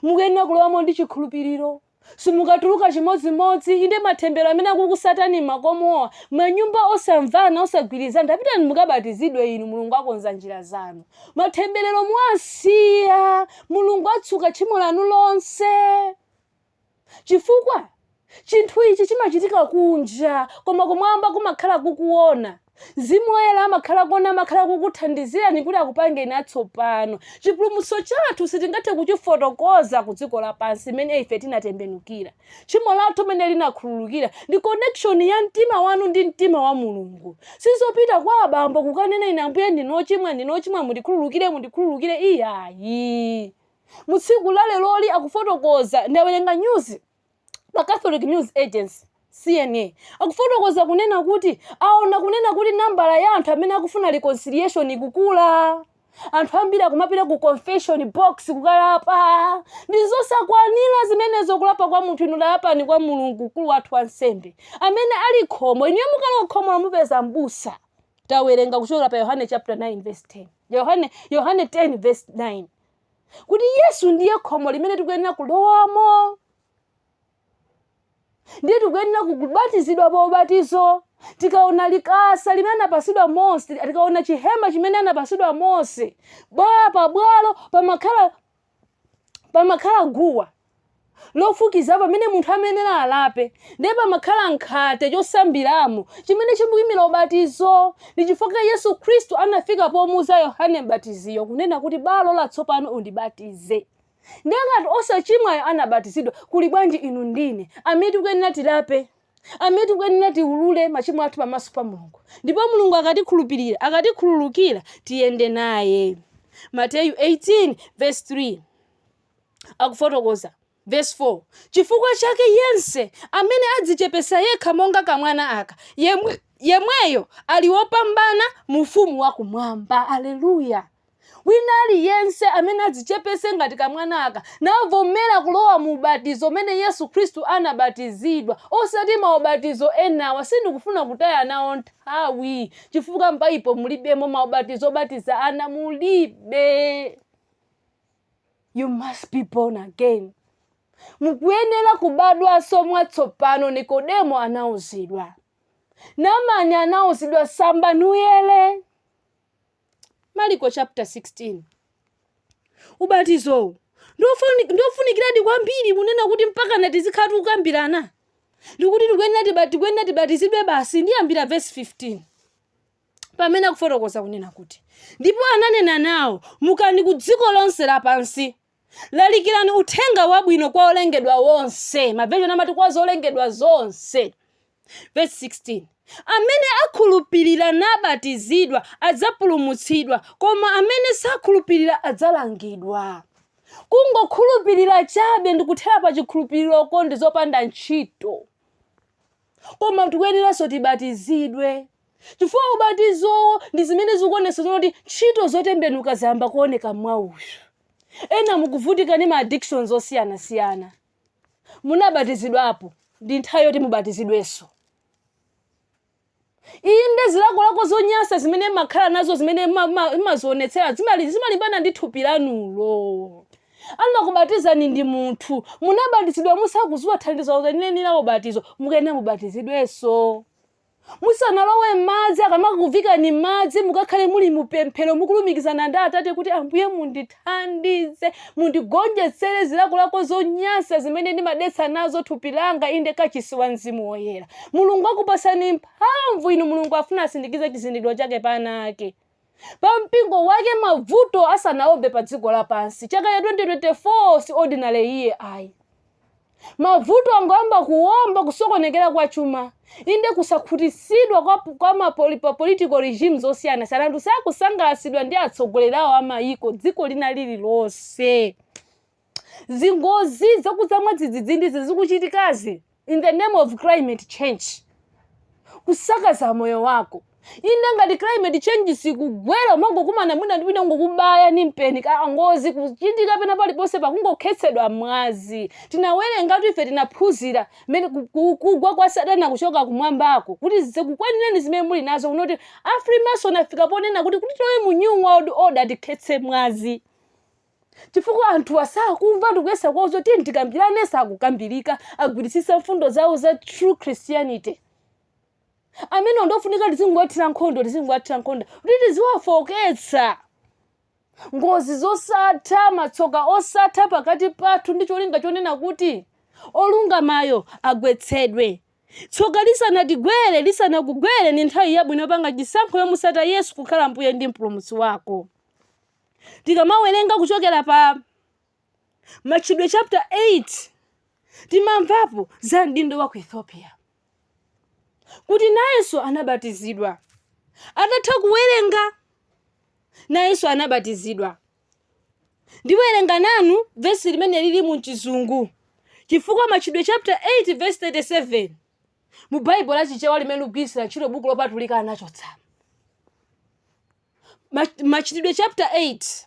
mukuyenera kulowamo ndi chikhulupiriro. Simukatuluka chimodzimodzi, inde matemberero amene akukusatani m'makomowa, manyumba osamvana, osagwirizana, tapitani mukabatizidwe inu, Mulungu akonza njira zanu. Matemberero muwasiya, Mulungu atsuka tchimo lanu lonse. Chifukwa? Chinthu ichi chimachitika kunja, koma Kumwamba kumakhala kukuwona. Mzimu Woyera amakhala kuwona, amakhala kukuthandizirani kuti akupangeni atsopano. Chipulumutso chathu sitingathe kuchifotokoza ku dziko lapansi, mmene ife tinatembenukira, tchimo lathu mmene linakhululukira, ndi connection ya mtima wanu ndi mtima wa Mulungu. Sizopita kwa abambo kukanena, Ine, Ambuye, ndine wochimwa, ndine wochimwa, mundikhululukire, mundikhululukire. Iyayi. mu tsiku la leroli akufotokoza ndawerenga news pa catholic news agency cna akufotokoza kunena kuti aona kunena kuti nambala ya anthu amene akufuna reconciliation ikukula anthu ambiri akumapita ku confession box kukalapa ndi zosakwanira zimenezo kulapa kwa munthu inu lapani kwa mulungu mkulu wathu wansembe amene ali khomo inuyo mukalowa khomo lomupeza mbusa tawerenga kuchokera pa yohane chapter 9 verse 10 yohane yohane 10 verse 9 kuti yesu ndiye khomo limene tikuyenera kulowamo ndiye tikuyenera kubatizidwa pa ubatizo tikaona likasa limene anapasidwa mose tikaona chihema chimene anapasidwa mose bwalo pabwalo pamakhala pamakhala guwa lofukiza pamene munthu amayenera alape ndiye pamakhala nkhate chosambiramo chimene chimayimira ubatizo ndi chifukwa yesu khristu anafika pomuuza yohane mbatiziyo kunena kuti balola tsopano undibatize ndiye ngati osachimwayo anabatizidwa kuli bwanji inu ndi ine amene tikuyenera tilape amene tikuyenera tiulule machimo athu pamaso pa mulungu ndipo mulungu akatikhulupirira akatikhululukira tiyende naye mateyu 18 verse 3 akufotokoza, vesi 4, Chifukwa chake yense amene adzichepetsa yekha monga kamwana aka, yemweyo ali wopambana mu ufumu wa kumwamba. Aleluya! wina aliyense amene adzichepetse ngati kamwana aka navomera kulowa mu ubatizo umene yesu khristu anabatizidwa osati maubatizo enawa sindikufuna kutaya nawo nthawi chifukwa m'baibulo mulibemo maubatizo obatiza ana mulibe you must be born again mukuyenera kubadwanso mwatsopano nikodemo anauzidwa namani anauzidwa samba nuyere maliko chapter 16 ubatizowu ndofuni- ndofunikiradi kwambiri kunena kuti mpaka natizikhala tikukambirana ndikuti tikuyenera tiba- tikuyenera tibatizidwe basi ndiyambira vesi 15 pamene akufotokoza kunena kuti ndipo ananena nawo mukani ku dziko lonse lapansi lalikirani uthenga wabwino kwa olengedwa onse maveshoni amati kwa zolengedwa zonse verse 16 amene akhulupirira nabatizidwa adzapulumutsidwa koma amene sakhulupirira adzalangidwa kungokhulupirira chabe ndikuthera pa chikhulupiriroko ndi zopanda ntchito koma tikuyeneranso tibatizidwe Chifukwa ubatizowo ndi zimene zikuonetsa zoona kuti ntchito zotembenuka zayamba kuoneka mwa uyu. Ena mukuvutika ndi ma addictions osiyanasiyana. Munabatizidwapo, ndi nthawi yoti mubatizidwenso. Inde, zilakolako zonyansa zimene mmakhala nazo zimene mma- mma- mmazionetsera zimali- zimalimbana ndi thupi lanulo. Anakubatizani ndi munthu. Munabatizidwa musakudziwa thandizo lenileni la ubatizo, mukuyenera mubatizidwenso. Musanalowe m'madzi, akamakakuviikani m'madzi, mukakhale muli mu pemphero, mukulumikizana ndi Atate kuti, Ambuye mundithandize, mundigonjetsere zilakolako zonyansa zimene ndimadetsa nazo thupi langa, inde kachisi wa Mzimu Woyera. Mulungu akupatsani mphamvu inu, Mulungu afuna asindikize chizindikiro chake pa ana ake. pa mpingo wake mavuto asanaombe pa dziko lapansi chaka cha 2024 si ordinary year ayi mavuto angoyamba kuomba kusokonekera kwa chuma inde kusakhutisidwa kwa, kwa mapoli, pa political regimes osiyana siyana anthu sakusangalatsidwa ndi atsogoleri awo amayiko dziko lina lililonse zingozi zakudza mwadzidzidzizi zikuchitikazi in the name of climate change kusakaza moyo wako inde ngati climate change sikugwera umangokumana mwina ndi wina ngokubaya ni mpeni ka ngozi kuchitika pena paliponse pakungokhetsedwa mwazi tinawerengatu ife tinaphunzira mmene ku- ku- kugwa kwa satana kuchoka kumwambako kuti zikukwanireni zimene muli nazo kunoti a freemason afika ponena kuti kuti tilowe mu new world order tikhetse mwazi chifukwa anthuwa sakumva tikuyesa kuwauza kuti tiyeni tikambirane sakukambirika agwiritsitsa mfundo zawo za true christianity amenewa ndofunika tizingowathira nkhondo tizingowathira nkhondo kuti tiziwafoketsa ngozi zosatha matsoka osatha pakati pathu ndi cholinga chonena kuti olungamayo agwetsedwe tsoka lisanatigwere lisanakugwere ndi nthawi yabwino yopanga chisankho yomusata yesu kukhala mbuye ndi mpulumutsi wako Tikamawerenga kuchokera pa Machitidwe chapter 8 timamvapo za mdindo wa ku Ethiopia kuti nayenso anabatizidwa. Atatha kuwerenga nayenso anabatizidwa. Ndiwerenga nanu vesi limene lili mu chizungu chifukwa Machitidwe chapter 8 verse 37 mu Baibulo la Chichewa limene ndikugwiritsira ntchito buku lopatulika anachotsamo. Mach- machitidwe chapter 8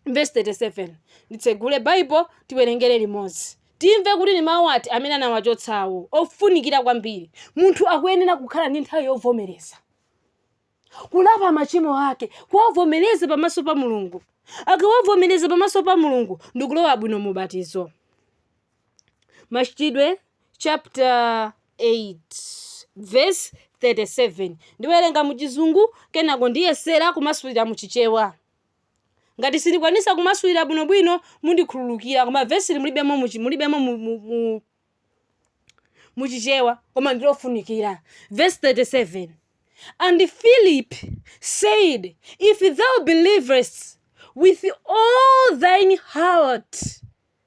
verse 37 nditsegule Bible tiwerengere limodzi timve kuti ni mawu ati amene anawachotsawo ofunikira kwambiri munthu akuyenera kukhala ndi nthawi yovomereza kulapa machimo ake kuwavomereza pamaso pa mulungu akawavomereza pamaso pa mulungu ndikulowa bwino mubatizo Machitidwe chapter 8 verse 37 ndiwerenga mu chizungu kenako ndiyesera kumasulira mu chichewa ngati sindikwanisa kumasulira bwinobwino mundikhululukira koma vesili mulibemo mu chi- mulibemo mu, mu, mu, mu chichewa koma ndilofunikira verse 37 and philip said if thou believest with all thine heart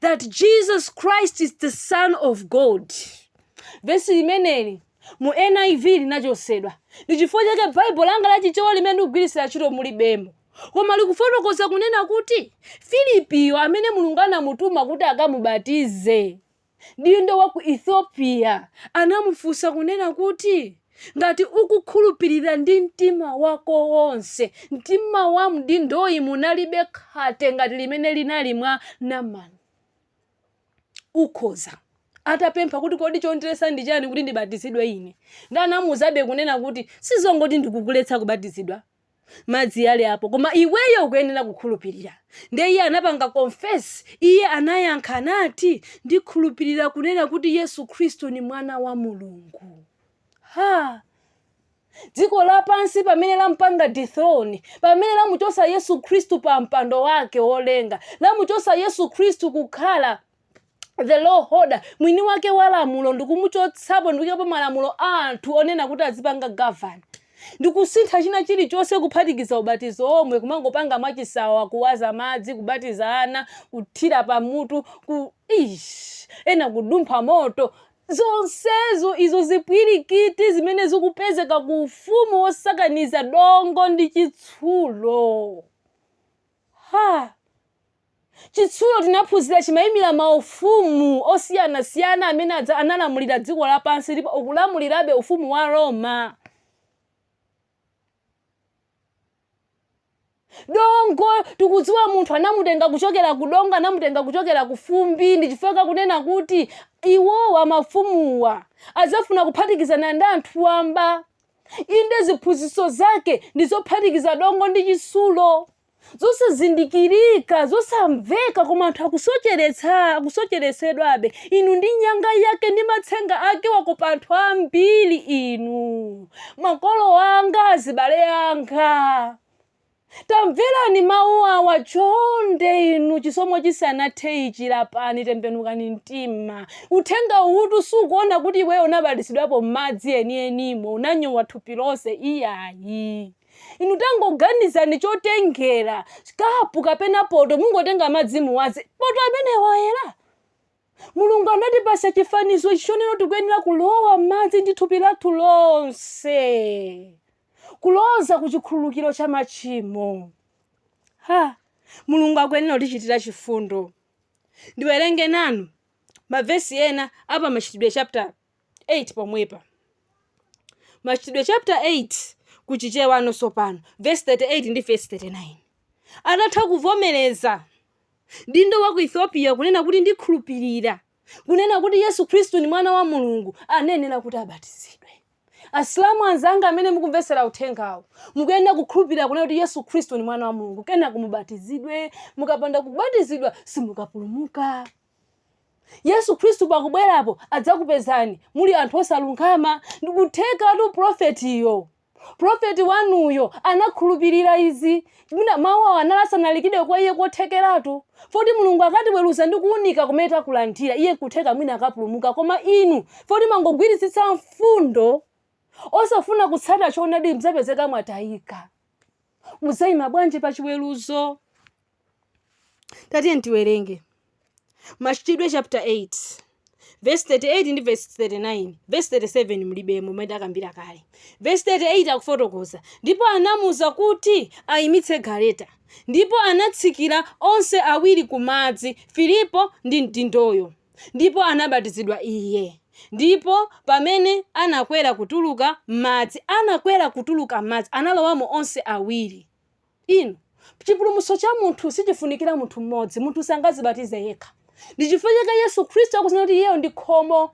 that Jesus Christ is the Son of God. Vesi limeneli mu NIV linachosedwa ndi chifukwa chake Baibulo langa la Chichewa limene ndikugwiritsira ntchito mulibemo koma likufotokoza kunena kuti Filipiyo amene Mulungu anamutuma kuti akamubatize mdindo wa ku Ethiopia anamufunsa kunena kuti, Ngati ukukhulupirira ndi mtima wako wonse, mtima wa mdindoyi munalibe khate ngati limene linali mwa Naman. Ukhoza. Atapempha kuti kodi chondiresa ndi chani kuti ndibatizidwe ine? Ndiye anamuuzabe kunena kuti, sizongoti ndikukuletsa kubatizidwa, madzi ali apo, koma iweyo ukuyenera kukhulupirira. Ndiye iye anapanga confess, iye anayankha, nati, Ndikhulupirira kunena kuti Yesu Khristu ndi Mwana wa Mulungu. Ha! Dziko lapansi pamene lampanga dethrone, pamene lamuchosa Yesu Khristu pa mpando wake wolenga, lamuchosa Yesu Khristu kukhala the law holder mwini wake wa lamulo ndikumuchotsapo ndikuikapo malamulo a anthu onena kuti azipanga govern ndikusintha china chilichonse kuphatikiza ubatizo omwe kumangopanga mwachisawawa kuwaza madzi kubatiza ana kuthira pamutu ku ish ena kudumpha moto zonsezo izo zipwirikiti zimene zikupezeka ku ufumu wosakaniza dongo ndi chitsulo Ha! Chitsulo tinaphunzira chimaimira maufumu osiyanasiyana amene adza- analamulira dziko lapansi ndipo ukulamulirabe ufumu wa Roma. Dongo tikudziwa munthu anamutenga kuchokera ku dongo, anamutenga kuchokera ku fumbi, ndichifuna kunena kuti iwowa mafumuwa adzafuna kuphatikizana ndi anthu wamba Inde, ziphunzitso zake ndi zophatikiza dongo ndi chitsulo, zosazindikirika, zosamveka, koma anthu akusocheretsa, akusocheretsedwabe. Inu ndi nyanga yake ndi matsenga ake wakopa anthu ambiri inu, makolo anga, azibale anga. Tamverani mawu awa, chonde inu, chisomo chisanathe ichi, lapani, tembenukani mtima. Uthenga uwutu sukuona kuti iweyo unabatizidwapo m'madzi enienimo, unanyowa thupi lonse, iyayi. Inu tangoganizani chotengera, kapu kapena poto, mungotenga madzi muwaze, poto amenewo ayera? Mulungu anatipasa chifanizo ichi chonena tikuyenera kulowa m'madzi ndi thupi lathu lonse kuloza ku chikhululukiro cha machimo. Ha! Mulungu akuyenera kutichitira chifundo. Ndiwerenge nanu mavesi ena a pa Machitidwe chapter 8 pomwepa. Machitidwe chapter 8 ku Chichewano tsopano verse 38 ndi verse 39. Atatha kuvomereza mdindo wa ku Ethiopia kunena kuti ndikhulupirira kunena kuti Yesu Khristu ndi mwana wa Mulungu anayenera kuti abatizidwe. Asilamu anzanga amene mukumvetsera uthengawu mukuyenera kukhulupirira kunena kuti Yesu Khristu ndi mwana wa Mulungu kenaka mubatizidwe mukapanda kubatizidwa simukapulumuka. Yesu Khristu pakubwerapo adzakupezani muli anthu osalungama. Ndikuthekatu prophetyo, prophet wanuyo anakhulupirira izi, mau awa anali asanalikidwe kwa iye kothekeratu, foti Mulungu akatiweruza ndi kuunika kumene takulandira, iye nkutheka mwina akapulumuka, koma inu foti mangogwiritsitsa mfundo osafuna kutsata choonadi mdzapezeka mwatayika. Mudzaima bwanji pa chiweruzo? tatiyeni tiwerenge machitidwe chapter 8 verse 38 ndi verse 39 verse 37 mlibemo mmene takambira kale verse 38 akufotokoza ndipo anamuuza kuti ayimitse galeta ndipo anatsikira onse awiri ku madzi filipo ndi mdindoyo ndipo anabatizidwa iye ndipo pamene anakwera kutuluka m'madzi anakwera kutuluka m'madzi analowamo onse awiri inu Chipulumutso cha munthu sichifunikira munthu mmodzi. Munthu sangazibatize yekha. Ndi chifukwa chake Yesu Khristu akunena kuti iyeyo ndi khomo.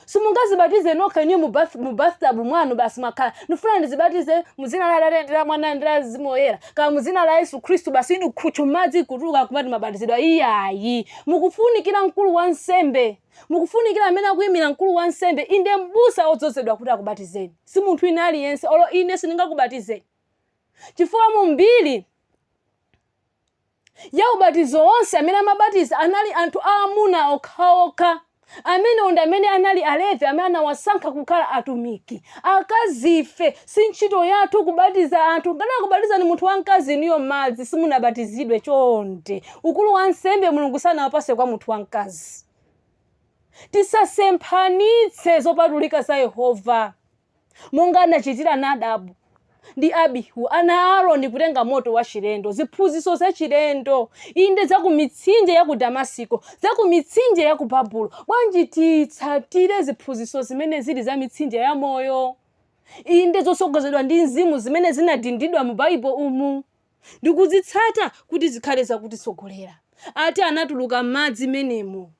Simungazibatize nokha inu mu bathtub mwanu basi mwakhala. Ndifuna ndizibatize mu dzina la Atate ndi la Mwana ndi la Mzimu Woyera. Kaya mu dzina la Yesu Khristu basi inu khutchu madzi kutuluka kumati mabatizidwa iyayi. Mukufunikira mkulu wa nsembe. Mukufunikira amene akuyimira mkulu wa nsembe inde m'busa odzozedwa kuti akubatizeni. Si munthu wina aliyense olo ine sindingakubatizeni. chifukwa mu mbiri ya ubatizo onse amene amabatiza anali anthu aamuna okhaokha amenewo ndi amene anali alevi amene anawasankha kukhala atumiki akazife si ntchito yathu kubatiza anthu ngati akubatizani munthu wamkazi inuyo madzi simunabatizidwe chonde ukulu wa nsembe mulungu sanawapase kwa munthu wamkazi tisasemphanitse zopatulika za yehova monga anachitira Nadabu ndi Abihu, ana a Aroni, kutenga moto wachilendo, ziphunzitso zachilendo, inde za ku mitsinje ya ku Damasiko, za ku mitsinje ya ku Babulo. Bwanji titsatire ziphunzitso zimene zili za mitsinje ya moyo, inde zotsogozedwa ndi mzimu zimene zinadindidwa mu Baibulo umu ndi kuzitsata kuti zikhale zakutitsogolera? Ati anatuluka m'madzi momwemo.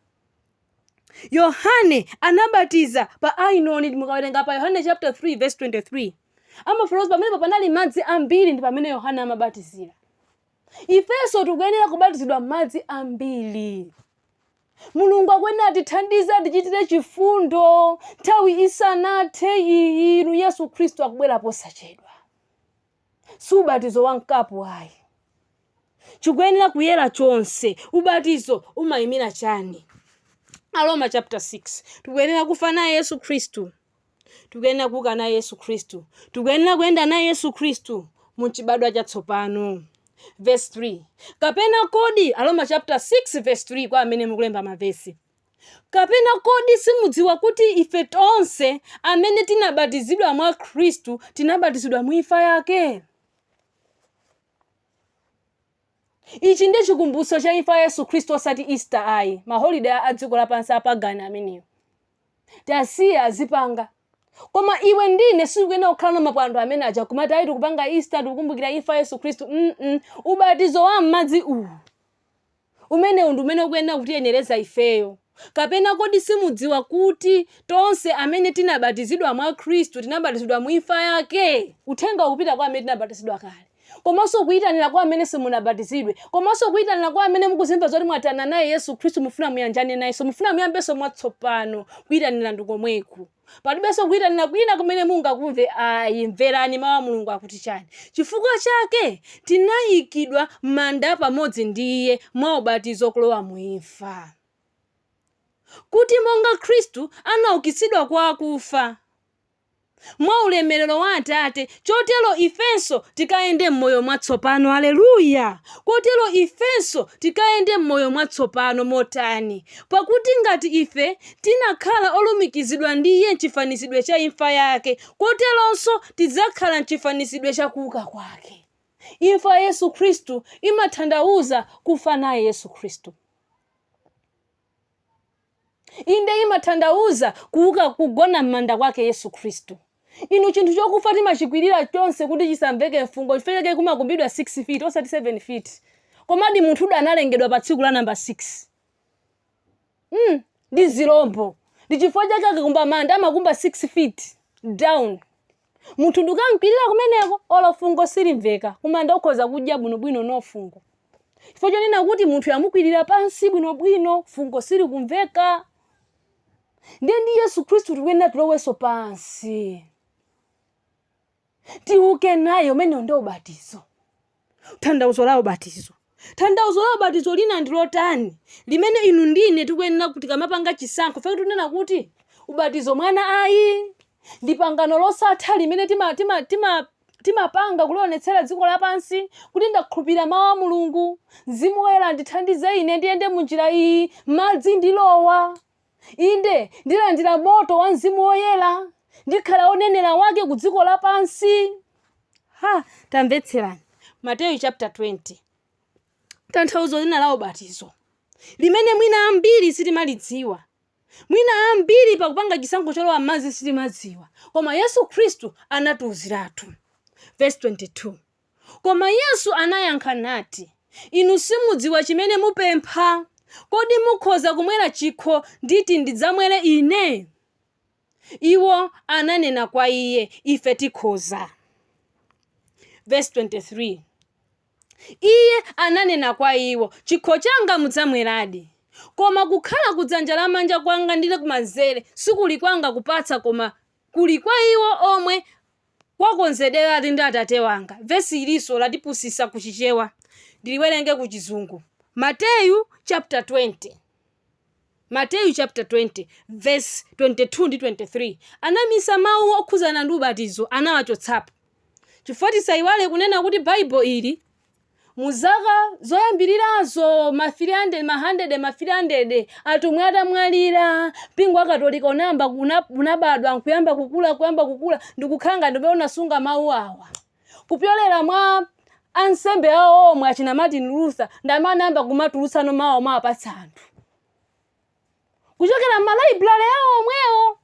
yohane anabatiza pa ainoni mukawerenga pa yohane chapter 3 verse 23 amafotokoza pamenepo panali madzi ambiri ndi pamene yohane amabatizira ifenso tikuyenera kubatizidwa mmadzi ambiri mulungu akuyenera atithandize atichitire chifundo nthawi isanathe iyi inu yesu khristu akubwera posachedwa si ubatizo wa mkapu ayi. Chikuyenera kuyera chonse. Ubatizo umayimira chani? Aroma chapter 6. Tikuyenera kufa naye Yesu Khristu. Tikuyenera kuuka naye Yesu Khristu. Tikuyenera kuyenda naye Yesu Khristu mu chibadwa chatsopano. Verse 3. Kapena kodi Aroma chapter 6 verse 3 kwa amene mukulemba mavesi. Kapena kodi simudziwa kuti ife tonse amene tinabatizidwa mwa Khristu tinabatizidwa mu imfa yake? Ichi ndi chikumbutso cha imfa ya Yesu Khristu osati Easter ayi, maholiday a dziko lapansi apagani amenewo. Tasiya azipanga. Koma iwe ndi ine sitikuyenera kukhala na mapwando amene aja kumati ayi tikupanga Easter tikukumbukira imfa ya Yesu Khristu. Mm, mm. Ubatizo wa m'madzi uwu. Umenewu ndi umene ukuyenera kutiyenereza ifeyo. Kapena kodi simudziwa kuti tonse amene tinabatizidwa mwa Khristu tinabatizidwa mu imfa yake? Uthengawu ukupita kwa amene tinabatizidwa kale, komanso ukuyitanira kwa amene simunabatizidwe, komanso ukuyitanira kwa amene mukuzimva zoti mwatayana naye Yesu Khristu mufuna muyanjane nayenso, mufuna muyambenso mwatsopano. Kuyitanira ndi komweku. palibenso kuyitanira kwina kumene mungakumve ayi mverani mawu a mulungu akuti chani chifukwa chake tinayikidwa m'manda pamodzi ndi iye mwa ubatizo kulowa mu imfa kuti monga khristu anaukitsidwa kwa akufa mwa ulemerero wa atate chotero ifenso tikayende m'moyo mwatsopano aleluya kotero ifenso tikayende m'moyo mwatsopano motani pakuti ngati ife Tinakhala olumikizidwa ndi Iye m'chifanizidwe cha imfa yake, koteronso tidzakhala m'chifanizidwe cha kuuka kwake. Imfa ya Yesu Khristu imathandauza kufa naye Yesu Khristu. Inde, imathandauza kuuka, kugona m'manda kwake Yesu Khristu. Inu, chinthu chokufa timachikwirira chonse kuti chisamveke mfungo, chifukwa chake kumakumbidwa 6 feet osati 7 feet. Komadi munthutu analengedwa pa tsiku la number 6. mm, ndi zilombo ndi chifukwa chake akamakumba manda amakumba 6 feet down munthu ndikamkwirira kumeneko olo fungo silimveka kumanda ukhoza kudya bwinobwino no fungo chifukwa chonena kuti munthu amukwirira pansi bwinobwino fungo silikumveka ndiye ndi yesu khristu tikuyenera tilowenso pansi tiuke naye umene ndiwo ubatizo thandauzo la ubatizo thandauzo la ubatizo lina ndi lotani limene inu ndine tikuyenera kuti tikamapanga chisankho chifukwa chake tikunena kuti ubatizo mwana ayi ndi pangano losatha limene ti timapanga kulionetsera dziko lapansi kuti ndakhulupirira mawu a mulungu mzimu woyera ndithandize ine ndiyende mu njira iyi madzi ndilowa Inde, ndilandira moto wa Mzimu Woyera. Ndikhala onenera wake ku dziko lapansi. Ha, tamvetserani. Mateyu chapter 20. Tanthauzo lina la ubatizo limene mwina ambiri sitimalidziwa. Mwina ambiri pakupanga chisankho cholowa m'madzi sitimadziwa. Koma Yesu Khristu anatiuziratu. Verse 22. Koma Yesu anayankha nati, Inu simudziwa chimene mupempha. Kodi mukhoza kumwera chikho nditi ndidzamwere Ine? Iwo ananena kwa Iye, Ife tikhoza. Verse 23. Iye ananena kwa iwo, chikho changa mudzamweradi, koma kukhala kudzanja lamanja kwanga ndi kumanzere sikuli kwanga kupatsa, koma kuli kwa iwo omwe Kwakonzedweratu ndi Atate wanga. Vesi ilinso latipusisa ku Chichewa. Ndiliwerenge ku Chizungu. Mateyu chapter 20. Mateyu chapter 20 vesi 22 ndi 23 anabisa mau okhuzana ndi ubatizo anawachotsapo. Chifukwa tisayiwale kunena kuti Baibulo ili. Mu zaka zoyambirirazo, mafirii handede, mahandede, mafirii handede, atumwi atamwalira, mpingo wa Katolika unayamba ku- una- unabadwa nkuyamba kukula, kuyamba kukula, ndikukhala ngati ndi umene unasunga mawu awa kupyolera mwa ansembe awo omwe achina Martin Luther ndi amene anayamba kumatulutsano mawuwa kuwapatsa anthu. kuchokera m'malaibulale awo omwewo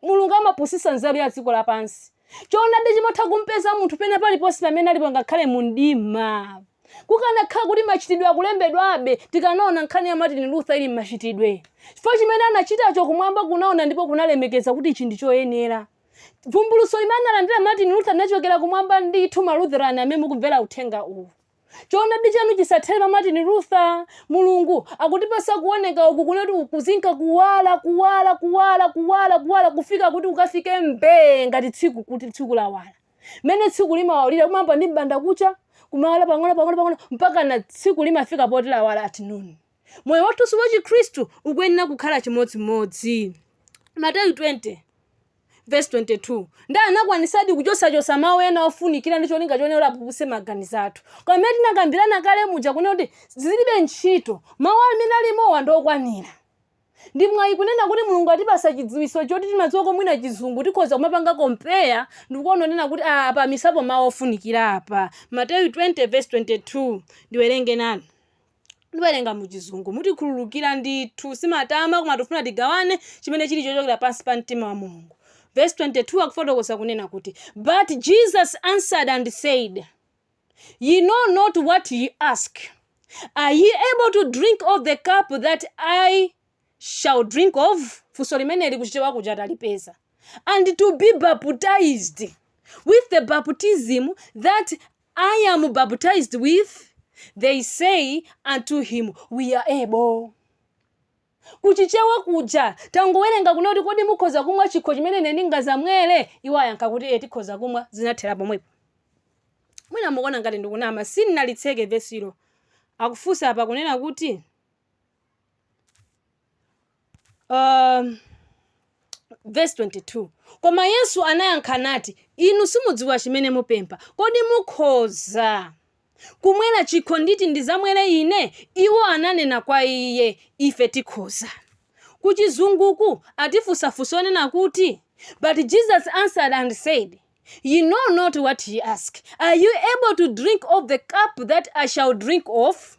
Mulungu amapusisa nzeru ya dziko lapansi choonadi chimatha kumpeza munthu pena paliponse pamene alipo ngakhale mu mdima kukanakhala kuti machitidwe akulembedwabe tikanaona nkhani ya Martin Luther ili m'machitidwe chifukwa chimene anachitacho kumwamba kunaona ndipo kunalemekeza kuti ichi ndi choyenera vumbuluso limene analandira Martin Luther linachokera kumwamba ndithu Malutherani amene mukumvera uthenga uwu Choonadi chanu chisathere pa Martin Luther. Mulungu akutipatsa kuoneka uku kunena kuti kuzinka kuwala, kuwala, kuwala, kuwala, kuwala, kufika kuti kukafike mbee ngati tsiku kuti tsiku lawala. Mene tsiku limawalira kumayamba ndi mbanda kucha, kumawala pang'ono pang'ono pang'ono mpaka na tsiku limafika poti lawala at noon. Moyo wathunso wa Chikhristu ukuyenera kukhala chimodzimodzi. Mateyu 20. vesi 22 ndiye anakwanisadi kuchosachosa mawu ena ofunikira ndi cholinga chonena kuti apupuse maganizo athu koma mene tinakambirana kale muja kunena kuti zilibe ntchito mawu amene alimowa ndi okwanira ndi mwayi kunena kuti Mulungu atipasa chidziwitso choti timadziwa komwina chizungu tikhoza kumapanga kompeya ndikuona kunena kuti "Ah, apa misapo mawu ofunikira apa Mateyu 20 vesi 22 ndiwerenge nane Ndiwerenga mu chizungu. Mutikhululukira ndithu. Simatama koma tufuna tigawane chimene chili chochokera pansi pa mtima wa Mulungu. Verse 22 akufotokoza kunena kuti But Jesus answered and said, Ye know not what ye ask. Are ye able to drink of the cup that I shall drink of? Funso limeneli kuchichewa kuja talipeza. And to be baptized with the baptism that I am baptized with, they say unto him, We are able. kuchichewa kuja tangowerenga kunena kuti kodi mukhoza kumwa chikho chimene ine ndingazamwere iwo ayankha kuti e tikhoza kumwa zinathera pomwepo mwina mukuona ngati ndikunama sinnalitseke vesilo akufunsa apa kunena kuti Um, verse 22 koma Yesu anayankha nati inu simudziwa chimene mupempha kodi mukhoza kumwera chikho nditi ndizamwere ine iwo ananena kwa iye ife tikhoza kuchizunguku atifunsa funso lonena kuti but Jesus answered and said ye know not what ye ask are you able to drink of the cup that I shall drink of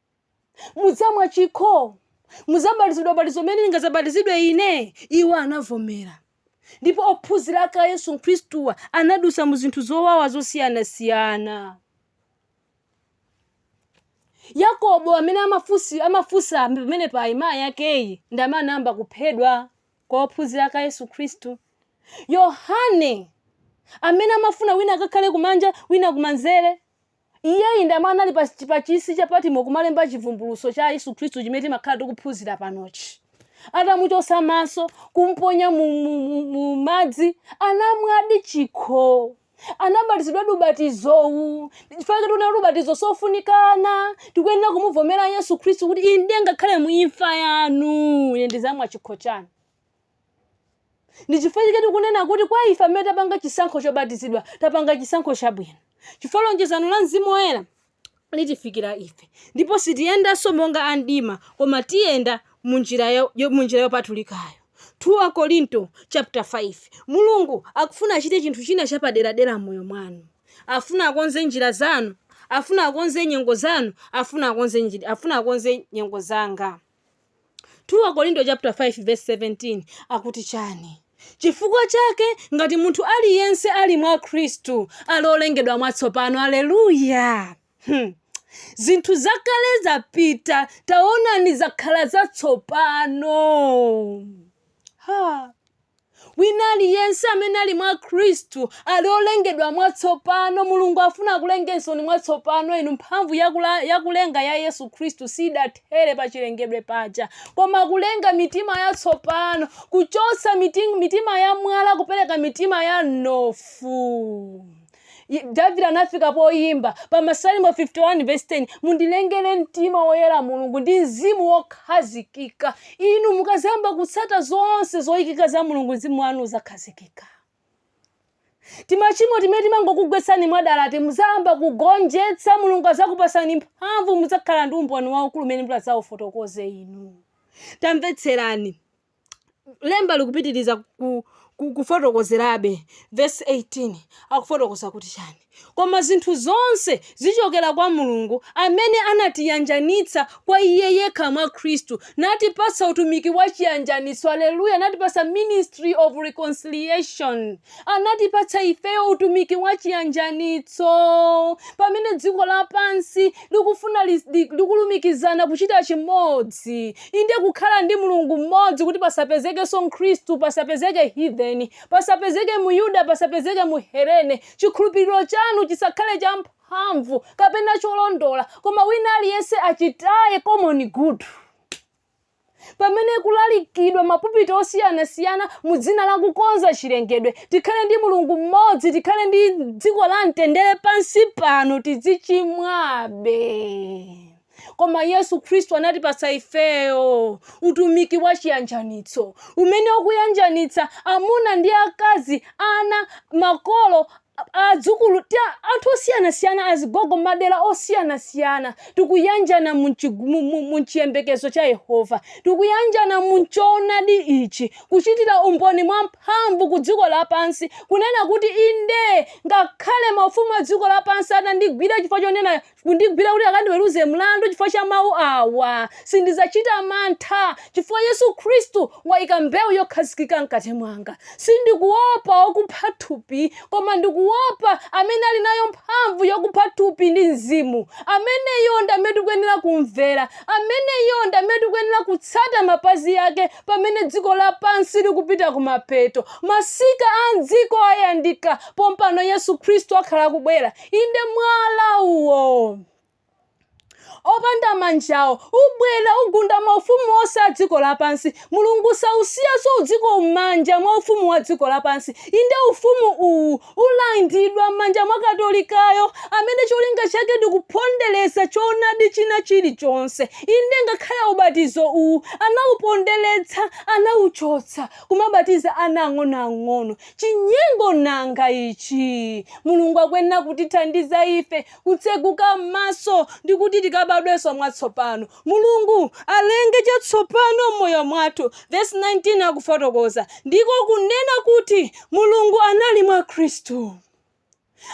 mudzamwa chikho mudzabatizidwa batizo limene ndingadzabatizidwe ine iwo anavomera ndipo ophunzira ake a yesu khristu anadutsa mu zinthu zowawa zosiyanasiyana yakobo amene amafusi amafusa pamene pa mayi akeyi ndi amene anayamba kuphedwa mwa ophunzira ake a yesu khristu yohane amene amafuna wina akakhale kumanja wina kumanzere Iyeyu ndi amene anali pa, pa chisi cha Patimo kumalemba chivumbulutso cha Yesu Khristu chimene timakhala tikuphunzira panochi. Atamuchotsa maso, kumponya mu, mu, mu, mu madzi, anamwadi chikho. Anabatizidwadi ubatizowu. Chifukwa choti unali ubatizo sofunikana, tikuyenera kumuvomera Yesu Khristu kuti inde ngakhale mu imfa yanu ine ndizamwa chikho chanu. Ndi chifukwa chake tikunena kuti kwa ife amene tapanga chisankho chobatizidwa, tapanga chisankho chabwino, chifukwa lonjezo la Mzimu Woyera litifikira ife, ndipo sitiyendanso monga a mdima, koma tiyenda mu njira ya- yo- mu njira yopatulikayo. 2 Akorinto chapter 5. Mulungu akufuna achite chinthu china chapaderadera m'moyo mwanu. Afuna akonze njira zanu, afuna akonze nyengo zanu, afuna akonze afuna akonze nyengo zanga. 2 Akorinto chapter 5 verse 17 akuti chani? Chifukwa chake ngati munthu aliyense ali mwa Khristu ali olengedwa mwatsopano. Aleluya! Hmm. Zinthu zakale zapita, taonani zakhala zatsopano. Ha. Wina aliyense amene ali mwa Khristu ali olengedwa mwatsopano. Mulungu afuna akulengensoni mwatsopano inu. Mphamvu ya kula, ya kulenga ya Yesu Khristu siidathere pa chilengedwe paja, koma kulenga mitima yatsopano, kuchotsa mitima, mitima ya mwala kupereka mitima ya mnofu. davide anafika poyimba pa masalimo 51 vesi 10 mundilengere mtima woyera mulungu ndi mzimu wokhazikika inu mukazayamba kutsata zonse zoyikika za mulungu mzimu wanu uzakhazikika timachimo timene timangokugwetsani mwadalati muzayamba kugonjetsa mulungu azakupasani mphamvu muzakhala ndi umboni waukulu umene mudzaufotokoze inu tamvetserani lemba likupitiriza ku- ku- kufotokozerabe vesi 18 akufotokoza kuti chani koma zinthu zonse zichokera kwa mulungu amene anatiyanjanitsa kwa iye yekha mwa khristu natipatsa utumiki wa chiyanjanitso aleluya natipatsa ministry of reconciliation Anatipatsa ifeyo utumiki wa chiyanjanitso, pamene dziko lapansi likufuna likulumikizana kuchita chimodzi, inde kukhala ndi Mulungu mmodzi kuti pasapezekenso Mkhristu, pasapezeke heathen, pasapezeke Myuda, pasapezeke Mhelene, chikhulupiriro chanu chisakhale cha mphamvu kapena cholondola, koma wina aliyense achitaye common good. pamene kulalikidwa mapupiti osiyanasiyana mu dzina la kukonza chilengedwe tikhale ndi mulungu mmodzi tikhale ndi dziko la mtendere pansi pano tidzichimwabe koma yesu khristu anatipatsa ifeyo utumiki wa chiyanjanitso umene ukuyanjanitsa amuna ndi akazi ana makolo adzukulu, anthu osiyanasiyana, azigogo m'madera osiyanasiyana. Tikuyanjana mu m'chi mu mu mu m'chiyembekezo cha Yehova. Tikuyanjana mu m'choonadi ichi, kuchitira umboni mwamphamvu ku dziko lapansi, kunena kuti, Inde, ngakhale maufumu a dziko lapansi atandigwira chifukwa chonena kundigwira kuti akandiweruze mlandu chifukwa cha mawu awa. Sindidzachita mantha chifukwa Yesu Khristu waika mbewu yokhazikika mkati mwanga. Sindikuopa wakupha thupi, koma ndikuopa amene ali nayo mphamvu yokupha thupi ndi mzimu. Ameneyo ndi amene tikuyenera kumvera. Ameneyo ndi amene tikuyenera kutsata mapazi yake pamene dziko lapansi likupita kumapeto. Masika a m'dziko ayandika, pompano Yesu Khristu akhala akubwera. Inde, mwala uwo opanda manjawo ubwera, ugunda maufumu onse a dziko lapansi. Mulungu sausiyanso udziko m'manja mwa ufumu wa dziko lapansi. Inde, ufumu uwu ulandidwa m'manja mwa Katolikayo, amene cholinga chake ndi kupondereza choonadi china chilichonse. Inde, ngakhale ubatizo uwu anauponderetsa, anauchotsa, kumabatiza ana ang'onoang'ono. Chinyengo nanga ichi! Mulungu akuyenera kutithandiza ife kutseguka m'maso ndi kuti tikabadwenso mwatsopano. Mulungu alenge chatsopano m'moyo mwathu, vesi 19 akufotokoza, ndiko kunena kuti, Mulungu anali mwa Khristu.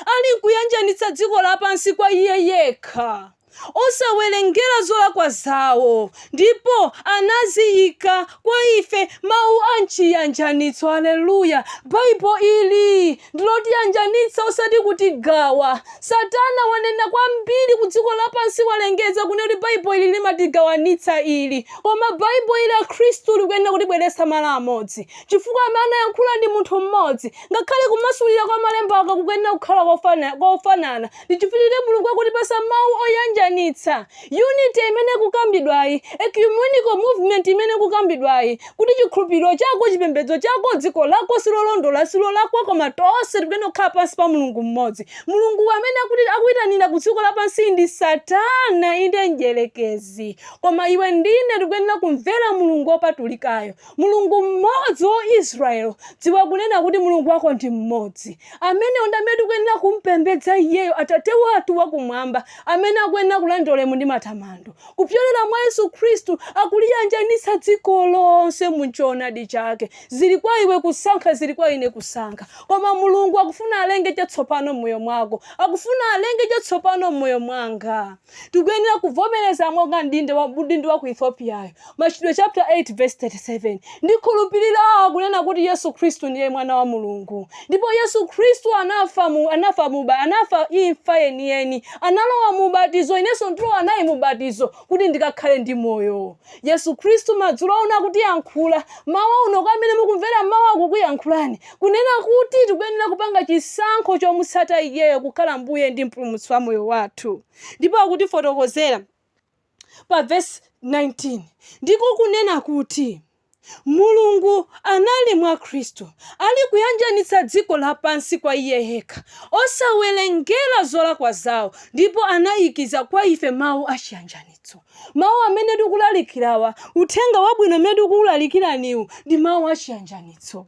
ali nkuyanjanitsa dziko lapansi kwa iye yekha, osawerengera zolakwa zawo, ndipo anaziika kwa ife mawu a chiyanjanitso. Aleluya! Bible ili ndilotiyanjanitsa osati kutigawa. Satana wanena kwambiri ku dziko lapansi walengeza kunena kuti Bible ili limatigawanitsa ili. Koma Bible ili akhristu likuyenera kutibweretsa malo amodzi. Chifukwa amene anayankhula ndi munthu mmodzi, Ngakhale kumasulira kwa malembo aka kukuyenera kukhala kofanana, ndi chifukwa chake Mulungu akutipatsa mawu oyanjanitsa, unity imene ikukambidwayi, ecumenical movement imene ikukambidwayi, kuti chikhulupiriro chako, chipembedzo chako, dziko lako silolondola, silolakwa, koma tonse tikuyenera kukhala pansi pa Mulungu m'modzi. Mulungu amene akuitanira ku dziko lapansi ndi Satana, inde mdyerekezi. Koma iwe ndine tikuyenera kumvera Mulungu opatulikayo. Mulungu mmodzi wa Israel, dziwa kunena kuti Mulungu wako ndi mmodzi. Ameneyo ndi amene tikuyenera kumpembedza iyeyo, Atate wathu wakumwamba, amene akuyenera kulandira ulemu ndi matamando. Kupyolera mwa Yesu Khristu akuliyanjanitsa dziko lonse mu choonadi chake. Zili kwa iwe kusankha, zili kwa ine kusankha. Koma Mulungu akufuna alenge chatsopano m'moyo mwako, akufuna alenge chatsopano m'moyo mwanga. Tikuyenera kuvomereza monga mdindo wa ku Ethiopiayo. Machitidwe chaputala 8 vesi 37. Ndikhulupirira kunena kuti Yesu Khristu ndiye mwana wa Mulungu. Ndipo Yesu Khristu anafa mu anafa mu uba- anafa imfa yeniyeni. Analowa mu ubatizo, inenso ndilowa naye mu ubatizo kuti ndikakhale ndi moyo. Yesu Khristu madzulo uno akutiyankhula, mmawa uno, kwa amene mukumvera mmawa akukuyankhulani, kunena kuti tikuyenera kupanga chisankho chomutsata Iyeyo kukhala Mbuye ndi Mpulumutsi wa moyo wathu. Ndipo akutifotokozera pa vesi 19, ndiko kunena kuti, Mulungu anali mwa Khristu, ali kuyanjanitsa dziko lapansi kwa Iye yekha, osawerengera zolakwa zawo, ndipo anaikiza kwa ife Mawu a chiyanjanitso. Mawu amene tikulalikirawa, Uthenga Wabwino umene tikuulalikiraniwu, ndi Mawu a chiyanjanitso.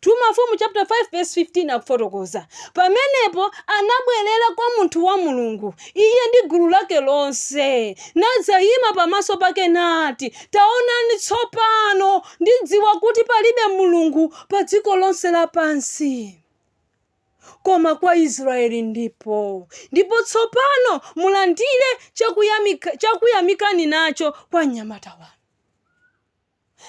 2 Mafumu chaputala 5 vesi 15 akufotokoza, Pamenepo anabwerera kwa munthu wa Mulungu, iye ndi gulu lake lonse, nadzayima pamaso pake nati, Taonani tsopano, ndidziwa kuti palibe Mulungu pa dziko lonse lapansi koma kwa Israyeli ndiko, ndipo tsopano mulandire chakuyamikani nacho kwa mnyamata wanu.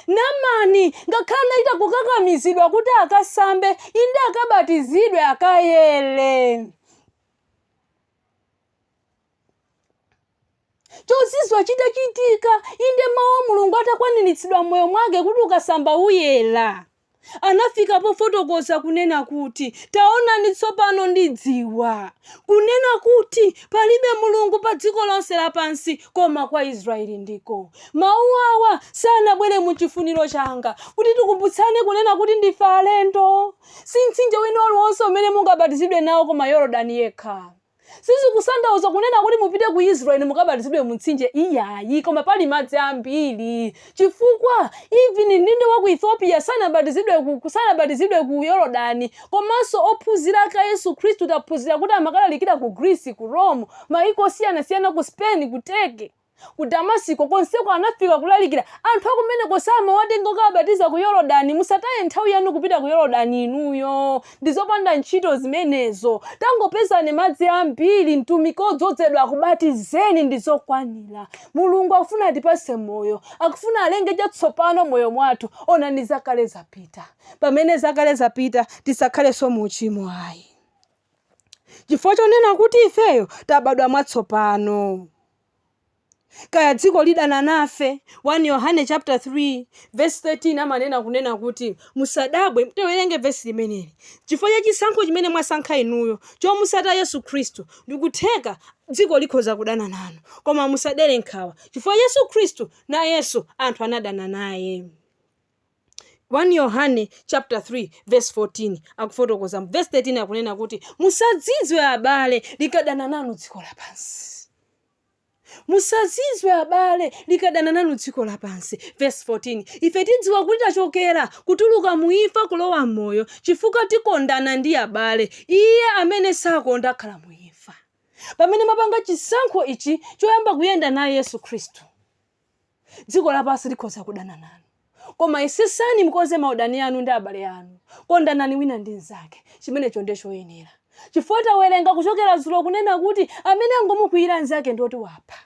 Namani, ngakhale anachita kukakamizidwa kuti akasambe, inde akabatizidwe, akayere. Chozizwa chitachitika, inde mawu a Mulungu atakwaniritsidwa m'moyo mwake kuti ukasamba uyera. anafika pofotokoza kunena kuti, Taonani tsopano ndidziwa, kunena kuti palibe Mulungu pa dziko lonse lapansi koma kwa Israyeli ndiko. Mawu awa sanabwere mu chifuniro changa kuti tikumbutsane kunena kuti ndife alendo. Si mtsinje wina uliwonse umene mungabatizidwe nawo koma Yorodani yekha. Sizikutanthauza kunena kuti mupite ku Israel mukabatizidwe mu mtsinje iyayi, koma pali madzi ambiri. Chifukwa even mdindo wa ku Ethiopia sanabatizidwe ku ku- sanabatizidwe ku Yorodani, komanso ophunzira ake a Yesu Khristu taphunzira kuti amakalalikira ku Greece, ku Rome, maiko osiyanasiyana ku Spain, ku Turkey. Ku Damasiko konseko anafika kulalikira. Anthu akumeneko samawatenga kukawabatiza ku Yorodani. Musataye nthawi yanu kupita ku Yorodani inuyo. Ndi zopanda ntchito zimenezo. Tangopezani madzi ambiri, mtumiki odzodzedwa akubatizeni ndi zokwanira. Mulungu akufuna atipatse moyo. Akufuna alenge chatsopano moyo mwathu. Onani zakale zapita. Pamene zakale zapita, tisakhalenso mu uchimo ayi. chifukwa chonena kuti ifeyo tabadwa mwatsopano kaya dziko lidana nafe 1 yohane chapter 3 verse 13 amanena kunena kuti musadabwe tiwerenge vesi limeneli chifukwa cha chisankho chimene mwasankha inuyo chomutsata yesu khristu ndikutheka dziko likhoza kudana nanu koma musadere nkhawa chifukwa yesu khristu nayenso anthu anadana naye 1 Yohane chapter 3 verse 14 akufotokoza mu verse 13 akunena kuti musazizwe abale likadana nanu dziko lapansi musazizwe abale likadana nanu dziko lapansi verse 14 ife tidziwa kuti tachokera kutuluka mu imfa kulowa m'moyo chifukwa tikondana ndi abale iye amene sakonda akhala mu imfa pamene mwapanga chisankho ichi choyamba kuyenda naye yesu khristu dziko lapansi likhoza kudana nanu koma yesesani mukonze maudani anu ndi abale anu kondanani wina ndi mnzake chimenecho ndiye choyenera chifukwa tawerenga kuchokera dzulo kunena kuti amene angomukwiyira mnzake ndiye kuti wapha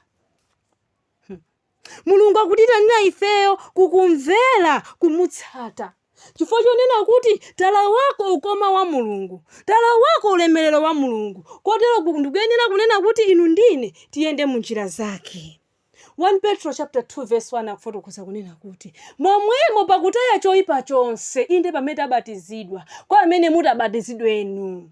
mulungu akutitanira ifeyo kukumvera kumutsata chifukwa chonena kuti talawako ukoma wa mulungu talawako ulemerero wa mulungu kotero ku- ndikuyenera kunena kuti inu ndi ine tiyende mu njira zake 1 Petro chapter 2 verse 1 akufotokoza kunena kuti momwemo pakutaya choyipa chonse inde pamene tabatizidwa kwa amene mutabatizidwe inu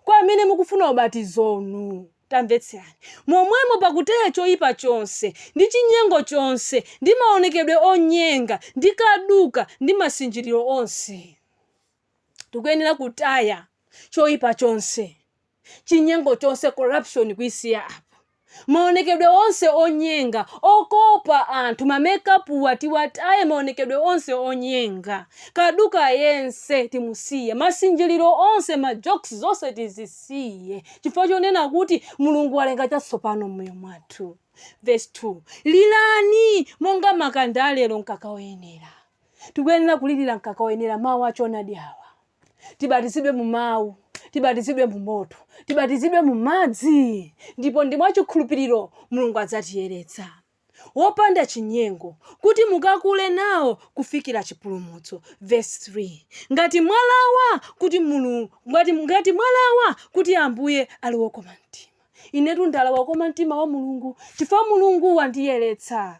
kwa amene mukufuna ubatizo inu tamvetserani momwemo pakutaya choyipa chonse ndi chinyengo chonse ndi maonekedwe onyenga ndi kaduka ndi masinjiriro onse tikuyenera kutaya choipa chonse chinyengo chonse corruption kuisiya apa maonekedwe onse onyenga okopa anthu mamekapuwa tiwataye maonekedwe onse onyenga kaduka yense timusiye masinjiriro onse majokes zonse tizisiye chifukwa chonena kuti mulungu walenga chatsopano mmoyo mwathu verse 2 lirani monga makanda alero mkaka woyenera Tikuyenera kulilira mkaka woyenera mawu a choonadi awa. Tibatizidwe mu mawu, tibatizidwe mu moto, tibatizidwe mu madzi, ndipo ndi mwachikhulupiriro Mulungu adzatiyeretsa wopanda chinyengo, kuti mukakule nawo kufikira chipulumutso. Verse 3 ngati mwalawa kuti mulungu ngati, ngati mwalawa kuti ambuye ali wokoma mtima inetu ndalawa kukoma mtima wa mulungu chifukwa mulungu wandiyeretsa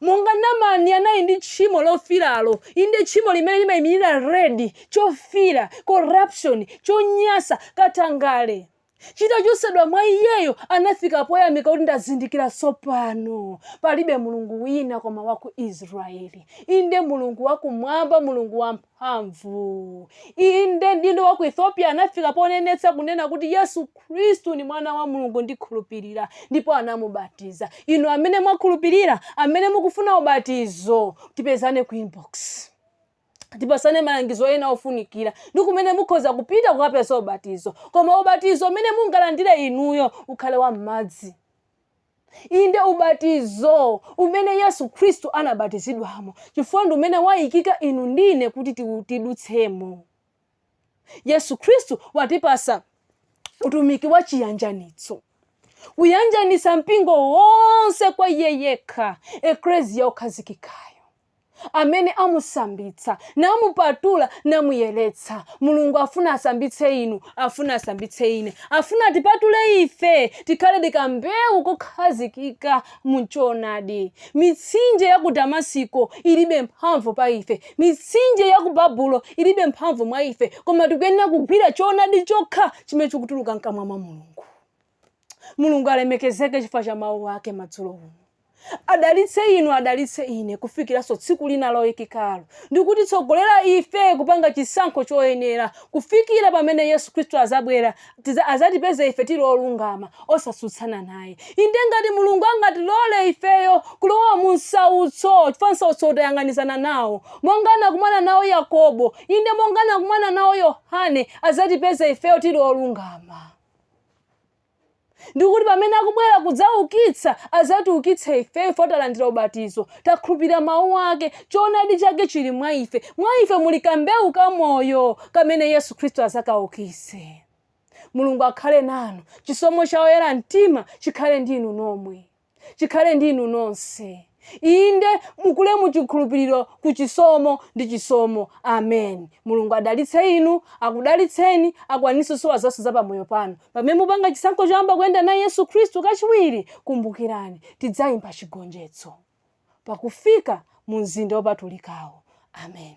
Monga Namani anali ndi tchimo lofiiralo, inde, tchimo limene limaimirira red, chofiira, corruption, chonyansa, katangale, chitachotsedwa mwa iyeyo, anafika poyamika kuti, Ndazindikira tsopano, palibe Mulungu wina koma wa ku Israeli, inde, Mulungu wa Kumwamba, Mulungu wa. mphamvu. Inde, mdindo wa ku Ethiopia anafika ponenetsa kunena kuti Yesu Kristu ni mwana wa Mulungu ndikhulupirira, ndipo anamubatiza. Inu amene mwakhulupirira, amene mukufuna ubatizo, tipezane ku inbox. tipasane malangizo ena ofunikira ndi kumene mukhoza kupita kukapeza ubatizo koma ubatizo umene mungalandire inuyo ukhale wa m'madzi Inde, ubatizo umene Yesu Khristu anabatizidwamo, chifukwa ndi umene wayikika inu ndi ine kuti ti- tidutsemo. Yesu Khristu watipasa utumiki wa chiyanjanitso, kuyanjanitsa mpingo wonse kwa iye yekha, ekleziya okhazikikayo. amene amusambitsa, namupatula, namuyeretsa. Mulungu afuna asambitse inu, afuna asambitse ine, afuna atipatule ife tikhale ndi kambewu kokhazikika mu choonadi. Mitsinje ya ku Damasiko ilibe mphamvu pa ife, mitsinje ya ku Babulo ilibe mphamvu mwa ife, koma tikuyenera kugwira choonadi chokha chimene chikutuluka mkamwa mwa Mulungu. mulungu alemekezeke chifukwa cha mawu ake madzulo uno adalitse inu adalitse ine kufikiranso tsiku lina loyikikalo ndi kutitsogolera ife kupanga chisankho choyenera kufikira pamene yesu khristu azabwera tiza- azatipeze ife tili olungama osatsutsana naye inde ngati mulungu angatilole ifeyo kulowa mu msautso chifukwa msautso tayang'anizana nawo monga anakumana nawo yakobo inde monga anakumana nawo yohane azatipeze ifeyo tili olungama ndi kuti pamene akubwera kudzaukitsa, azatiukitse ifeyo chifukwa talandira ubatizo, takhulupirira Mawu Ake, choonadi Chake chili mwa ife. Mwa ife muli kambewu ka moyo kamene Yesu Khristu azakaukitse. Mulungu akhale nanu. Chisomo cha oyera mtima chikhale ndi inu nomwe. chikhale ndi inu nonse. Inde, mukule mu chikhulupiriro ku chisomo ndi chisomo. Amen. Mulungu adalitse inu, akudalitseni, akwanitse zosowa zonse za pamoyo panu. Pamene mupanga chisankho choyamba kuyenda naye Yesu Khristu kachiwiri, kumbukirani, tidzayimba chigonjetso pakufika mu mzinda wopatulikawo. Amen.